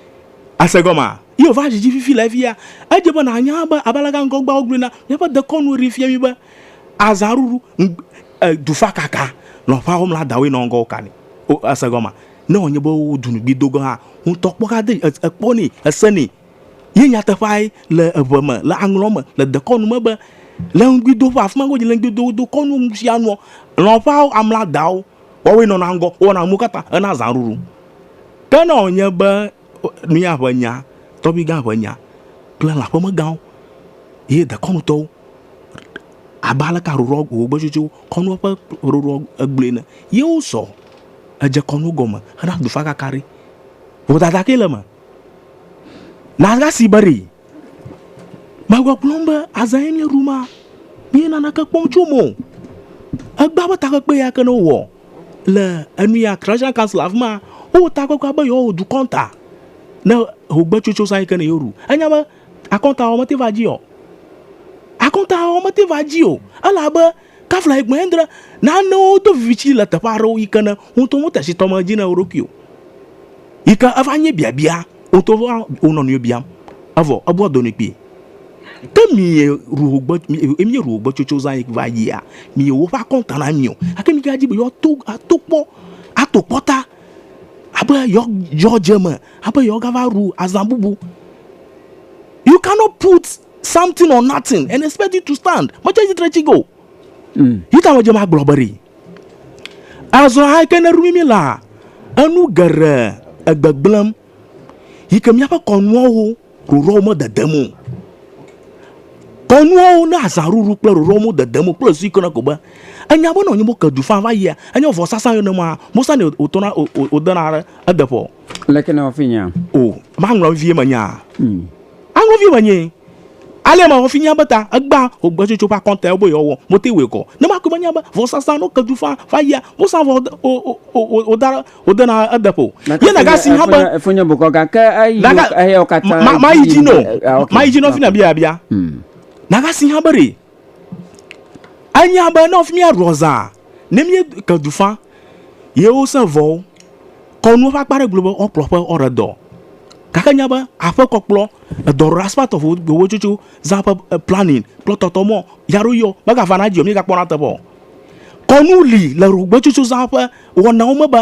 Àse gɔmea? Yehowa dzidzi fifi le efiea? Edze be nànya be abe aleke ŋgɔgbeawo gblɔe na míaƒe dekɔnu ene fia mí be, Azãɖuɖu, dufakaka, nɔƒeawo mla dawoe nɔ ŋgɔwo kanɛ. O, èse gɔmea? Ne wòanye be wodu nu kpli do gɔ̃ hã, ŋutɔkpɔka de ekpɔnɛ, esenɛ. Ye nyateƒeae le eŋe me, le aŋlɔ me, le dekɔnu me be, Le ŋugbidoƒe, afi ma ke wodzi le ŋugbidoƒe, wodokɔ nuwo nusianuɔ, nɔƒeawo amla dawo. Woawoe nɔna ŋgɔ, wowɔna nuwo katã hena zãɖuɖu. Ke ne wònye be mía ƒe nya, tɔgbuigã ƒe nya kple lã ƒemegãwo ye dekɔnutɔwo, abe aleke aɖuɖɔ gbogbogbetutuwo kɔnua ƒe ɖuɖɔ egblɔe ene, ye wosɔ edze kɔnu gɔme hena dufakaka ɖe, vodada kae le eme? Na asi be ɖee. Megbɔgblɔm be azã ye míeɖu ma, míe naneke kpɔm tso eme o. Egbea be takpekpe ya ke ne wowɔ le enu ya Christian Council afi ma, wowɔ takpekpea be yewoawɔ dukɔ ta ne hogbetsotso zã yi ke ne yewoɖu. Enya be akɔntawɔwɔ mete va edzi o. Akɔntawɔwɔ mete va edzi o elabe. Kafla ye gblɔe endre, nanewo do viviti le teƒe aɖewo yi ke ne wò ŋutɔ wote si tɔme dzi na wò ɖokui o, yi ke eva nye biabia wò ŋutɔ va wò nɔ nɔewo biam, evɔ ebua do nɛ kpee. Ke mie ru wò gbe, mie ru wò gbe tsotso zã yi va yia, mie woƒe akɔnta na mi o, gake mi gadi be yewoa to, ato kpɔ, ato kpɔ ta, abe yewoa, yewoa dze eme, abe yewoa gava ru azã bubu. You cannot put. Something or nothing and expect it to stand. Metsɔ tsitre tsi go. Mm. Yi ta medze magblɔ be ɖi. Azɔ ayike ne rumi mi la, enu geɖe egbegblẽm. Yi ke míaƒe kɔnuawo ɖoɖoawo mededem o. Kɔnuawo ne azãɖuɖu kple ɖoɖoawo mededem o kple zu yike ne ko be enya be nɔ nyi mo ke du fa va yia, enye vɔsasa yɔ ne ma, mosani wòtɔna wòdena ɖe edeƒɔ. Leke nèwɔ fi nya? O, maŋlɔ vevie menyaa. Mm. Aŋlɔ vevie menyee. Ale mewɔ fi nya be ta egbea xogbetsotso ƒe akɔntawo be yewoawɔ motee wɔe kɔ. Ne makɔe menya be vɔsasa no kedu faa va yia, wosã vɔ wode, wo, wo, wo, wo, wode, wodena edeƒe o. Ye naga si hã be. Efonye bokɔ gake eyi Naga, eyawo katã. ma, ma, mayi dzi no. Eh, eh, ok, Mayi dzi no fi ok. na bia bia. Hmm. Naga si hã be ɖe Anya be ne míaɖua zã, ne míeke du fã ye wosẽ vɔwo, kɔnuwo ƒe akpa ɖe gblɔ be woakplɔ aƒe woaɖe dɔ. Gake enya be aƒekɔ kple edɔɖaɖa aspect of wotsotso zã ƒe planning kple tɔtɔ mɔ yeaɖo yɔ megavana edzi o mígakpɔna eteƒe o. Kɔnu li le ɖogbetsotso zã ƒe wɔnawo me be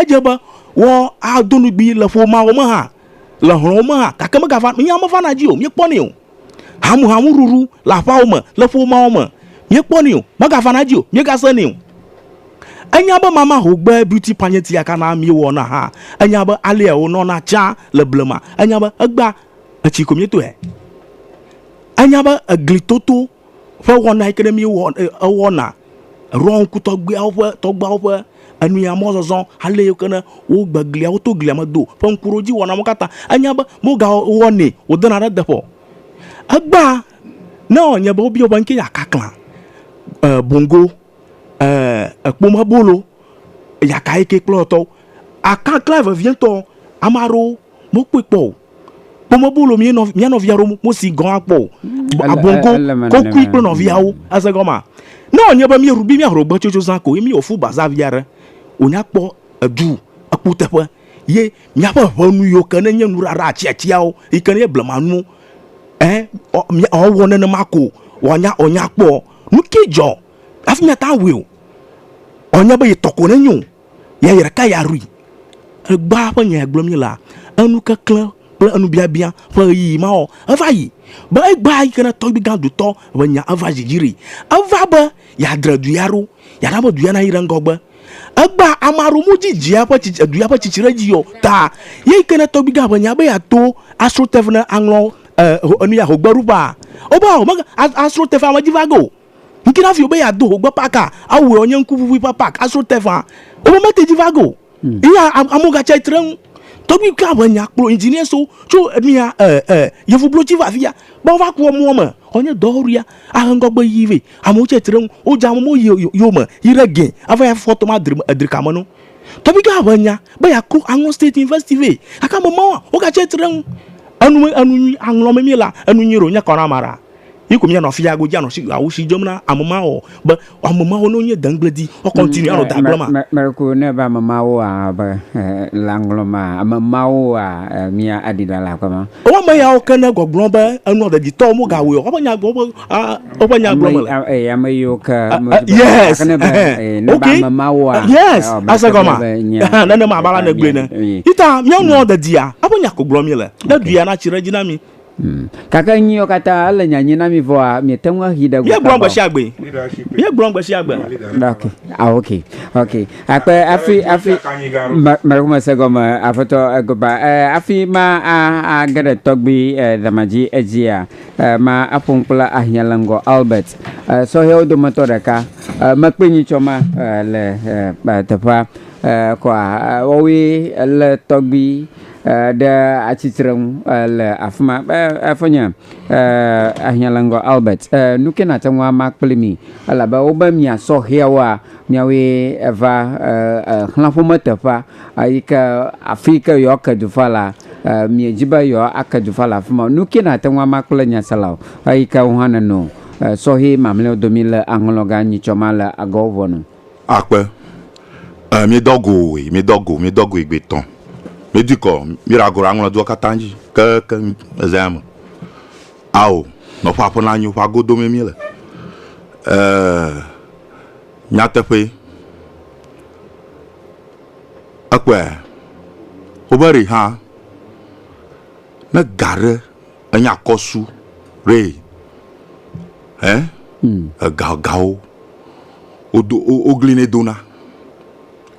edze be woado nugbi le ƒomea me hã, le hlɔ̃wo me hã gake megavana, míawo mevana edzi o, míekpɔnɛ o. Hamuhamuɖuɖu le aƒeawo me, le ƒomeawo me, míekpɔnɛ o, megavana edzi o, míegasenɛ o. Enya be mama hogbe beauty pageant ya kana míewɔna hã. Enya be alea wònɔna tsã le blema. Enya be egbea, etsi ko míetɔe. Enya be eglitoto ƒe wɔna yi ke ɖe míewɔ ewɔna ɖɔ ŋku tɔgbuiawo ƒe tɔgbuiawo ƒe enuya mɔzɔzɔ ale yi ke ne wogbe glia woto glia me do ƒe ŋkuɖodziwɔna mawo katã enya be wogawɔnɛ wodena ɖe eteƒe o. Egbea ne wɔ nye be wobia wò be nu ka ye akaklã e bongo. Ɛɛ, èkpom abolo. Eya kae ke kplɔ tɔwo? Akakla vevietɔ, ame aɖewo mekpɔe kpɔ o. Kpom abolo mía nɔ, mía nɔvia aɖewo mesi gɔ̃ hã kpɔ o. Ele- Abongo, ele me kokui nenema. kple nɔviawo. Ese gɔmea? Ne wònye be míeɖu be míaho gbe tso zã ko ye míewɔ food bazaar vi aɖe, wònya kpɔ edu, ekuteƒe ye míaƒe ʋenu yiwo ke ne nye nuɖaɖa, atsiatsiawo yi ke ne nye blemanuwo, ɛɛ, ɔ, mía, ɔ, wɔ nenema ko wòanya, wòanya kpɔ. Nu ki dzɔ hafi míate ŋu awɔe o, ɔ nye be yetɔ ko nenyo o, ya ye ɖeka ya ɖui. Egbea ƒe nya ya gblɔm míele la, enu keklẽ kple enu biabia ƒe ɣeyiɣi ma ɔ, eva yi. Be egbea yi ke ne tɔgbui gã dotɔ ƒe nya eva dzi dzi ɖi. Eva be yeadre du ya ɖo, yeana be du ya nayi ɖe ŋgɔgbe. Egbea ame aɖewo modzi dzia ƒe tsitsi edu ya ƒe tsitsi ɖe dzi o ta ye yi ke ne tɔgbi gã ʋe nya be yeato asro tef ne aŋlɔ e ho enu ya hogbeɖuƒea o be home asro tef ame dzi va ge o yi ke ne hafi be yeado hogbe paka awɔe wonye ŋkuʋuʋui ƒe pak asro tefaa wo be mete dzi va ge o ye ya amewo gatsia tre ŋu tɔgbi gã ʋe nya kplɔ engineerswo tso enu ya e e yevublotsi va afia be wova kpɔ mɔ me wonye dɔwɔwɔɖia ahe ŋgɔgbe yi vɛ. Amewo tsɛ tri ɖe eŋu. Wodze amewo yi yewo me yi ɖe gɛ ava yi afɔ tɔm adri edri ka me no. Tɔgbigã ʋe nya be yeaklo aŋlɔ state university vɛ. Gake ame mawoa, wogatsɛ tri ɖe eŋu. Enu me enu nyui aŋlɔ me míelea, enu nyui ɖe wònye kɔ na ame ɖaa? Ye ko míanɔ afi ya godzi anɔ shi awu shi dzem na ame mawoa ɔ? Be ame mawo ne wonye deŋgbledi woa continue anɔ da gblem a? Me me ko ne be ame mawoa be le aŋlɔ ma ame mawoa mía aɖi ɖa le aƒe ma. Woa ame yawo ke ne gbɔgblɔ be enua deditɔwo womegawɔe o. Woƒe nya woƒe Ah, woƒe nya gblɔ mele. Ame eh, yiwo ke ah, ah, yes eh, okay ah, yes asegɔma nenema abe alane gblɔe ne ita míanua dedia abe nya ko gblɔ mi le ne duya na tsi ɖe dzi na mi. Hmm. kake nyiwo katã ele nyanyi na mi vɔa miete ŋu ahi ɖe gbe gblɔ gbesi agbe ye gblɔ gbesi agbe ok ah ok ok akpe afi afi mɛrɛ kuma se gɔme afɔtɔ egoba eh, afi ma a a geɖe tɔgbi eh, damaji edzia Ma aƒo nu kple ahiã le ŋgɔ Albert, sɔhɛwo dometɔ ɖeka. Mekpɔe nyitsɔ ma le teƒea kɔa wɔwoe le tɔgbui ɖe atsitre nu le afima. Efonye ahiã le ŋgɔ Albert. Nuke nate ŋu ama kple mi elabe wobe mia sɔhɛwoa miawoe va xlã ƒome teƒea Eyi ke afi yi ke yewoake du va la, miedzi be yewoake du va le afi ma o. Nu kae nàte ŋu ama kple nyasela o, eyi ke wò hã nèno sɔhɛ mamlɛawo domi le aŋlɔga nyitsɔ ma le agɔwo ʋɔnu? Akpe, Ẽ, míedɔ go woe, míedɔ go, míedɔ goe gbetɔ. Míedui kɔ, míeɖa go ɖe aŋlɔ dua katã dzi kekeŋ le zãya me. Ao, nɔ ƒe aƒe nanyo, ƒea godo mee míele. Ɛɛ, nyateƒee. Ekpɔe? Wobe ɖi hã ne ga ɖe enye akɔsu ɖe ɛ ega gawo wodo wogli ne dona.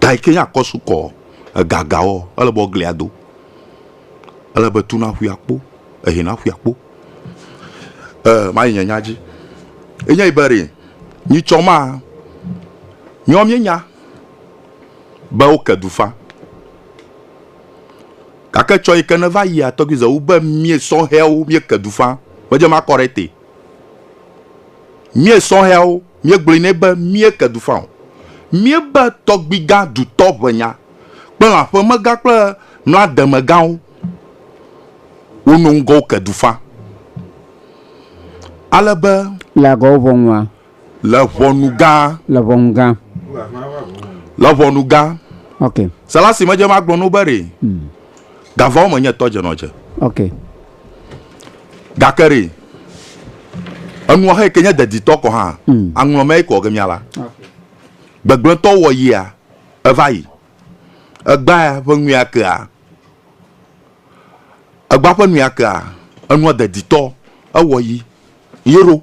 Ga yi ke nye akɔsu kɔ ega gawo ele be woglia do. Ele be tu na ƒui akpo ehe na ƒui akpo. E mayi nye nya dzi. Enye be ɖi nyitsɔ ma miɔ mienya. be woke du fã. Gake tsɔ yi ke neva yia tɔgbi ze wu be mie sɔhɛawo mieke du fã medze makɔ ɖe ete. Mie sɔhɛawo miegblɔe nɛ be mieke du fã o. Miebe tɔgbigã dutɔ ʋenya kple lãƒemegã kple mlademegãwo wono ŋgɔ woke du fã ale be. Le agɔwo ʋɔnua, Le ʋɔnu gã. Le ʋɔnu gã. Le ʋɔnu gã. Ok. Sela si medze ma gblɔ no be re. Hmm. Gavawo me nye tɔ dze nɔ dze. Ok. Gake re. Enua he ke nye deditɔ kɔ hã. Hmm. Aŋlɔ mɛ kɔ ke miala. Gbegblẽtɔ wɔ yia. Eva yi. Egba ƒe nuya kea. Egba ƒe nuya kea. Enua deditɔ. Ewɔ yi. Yero.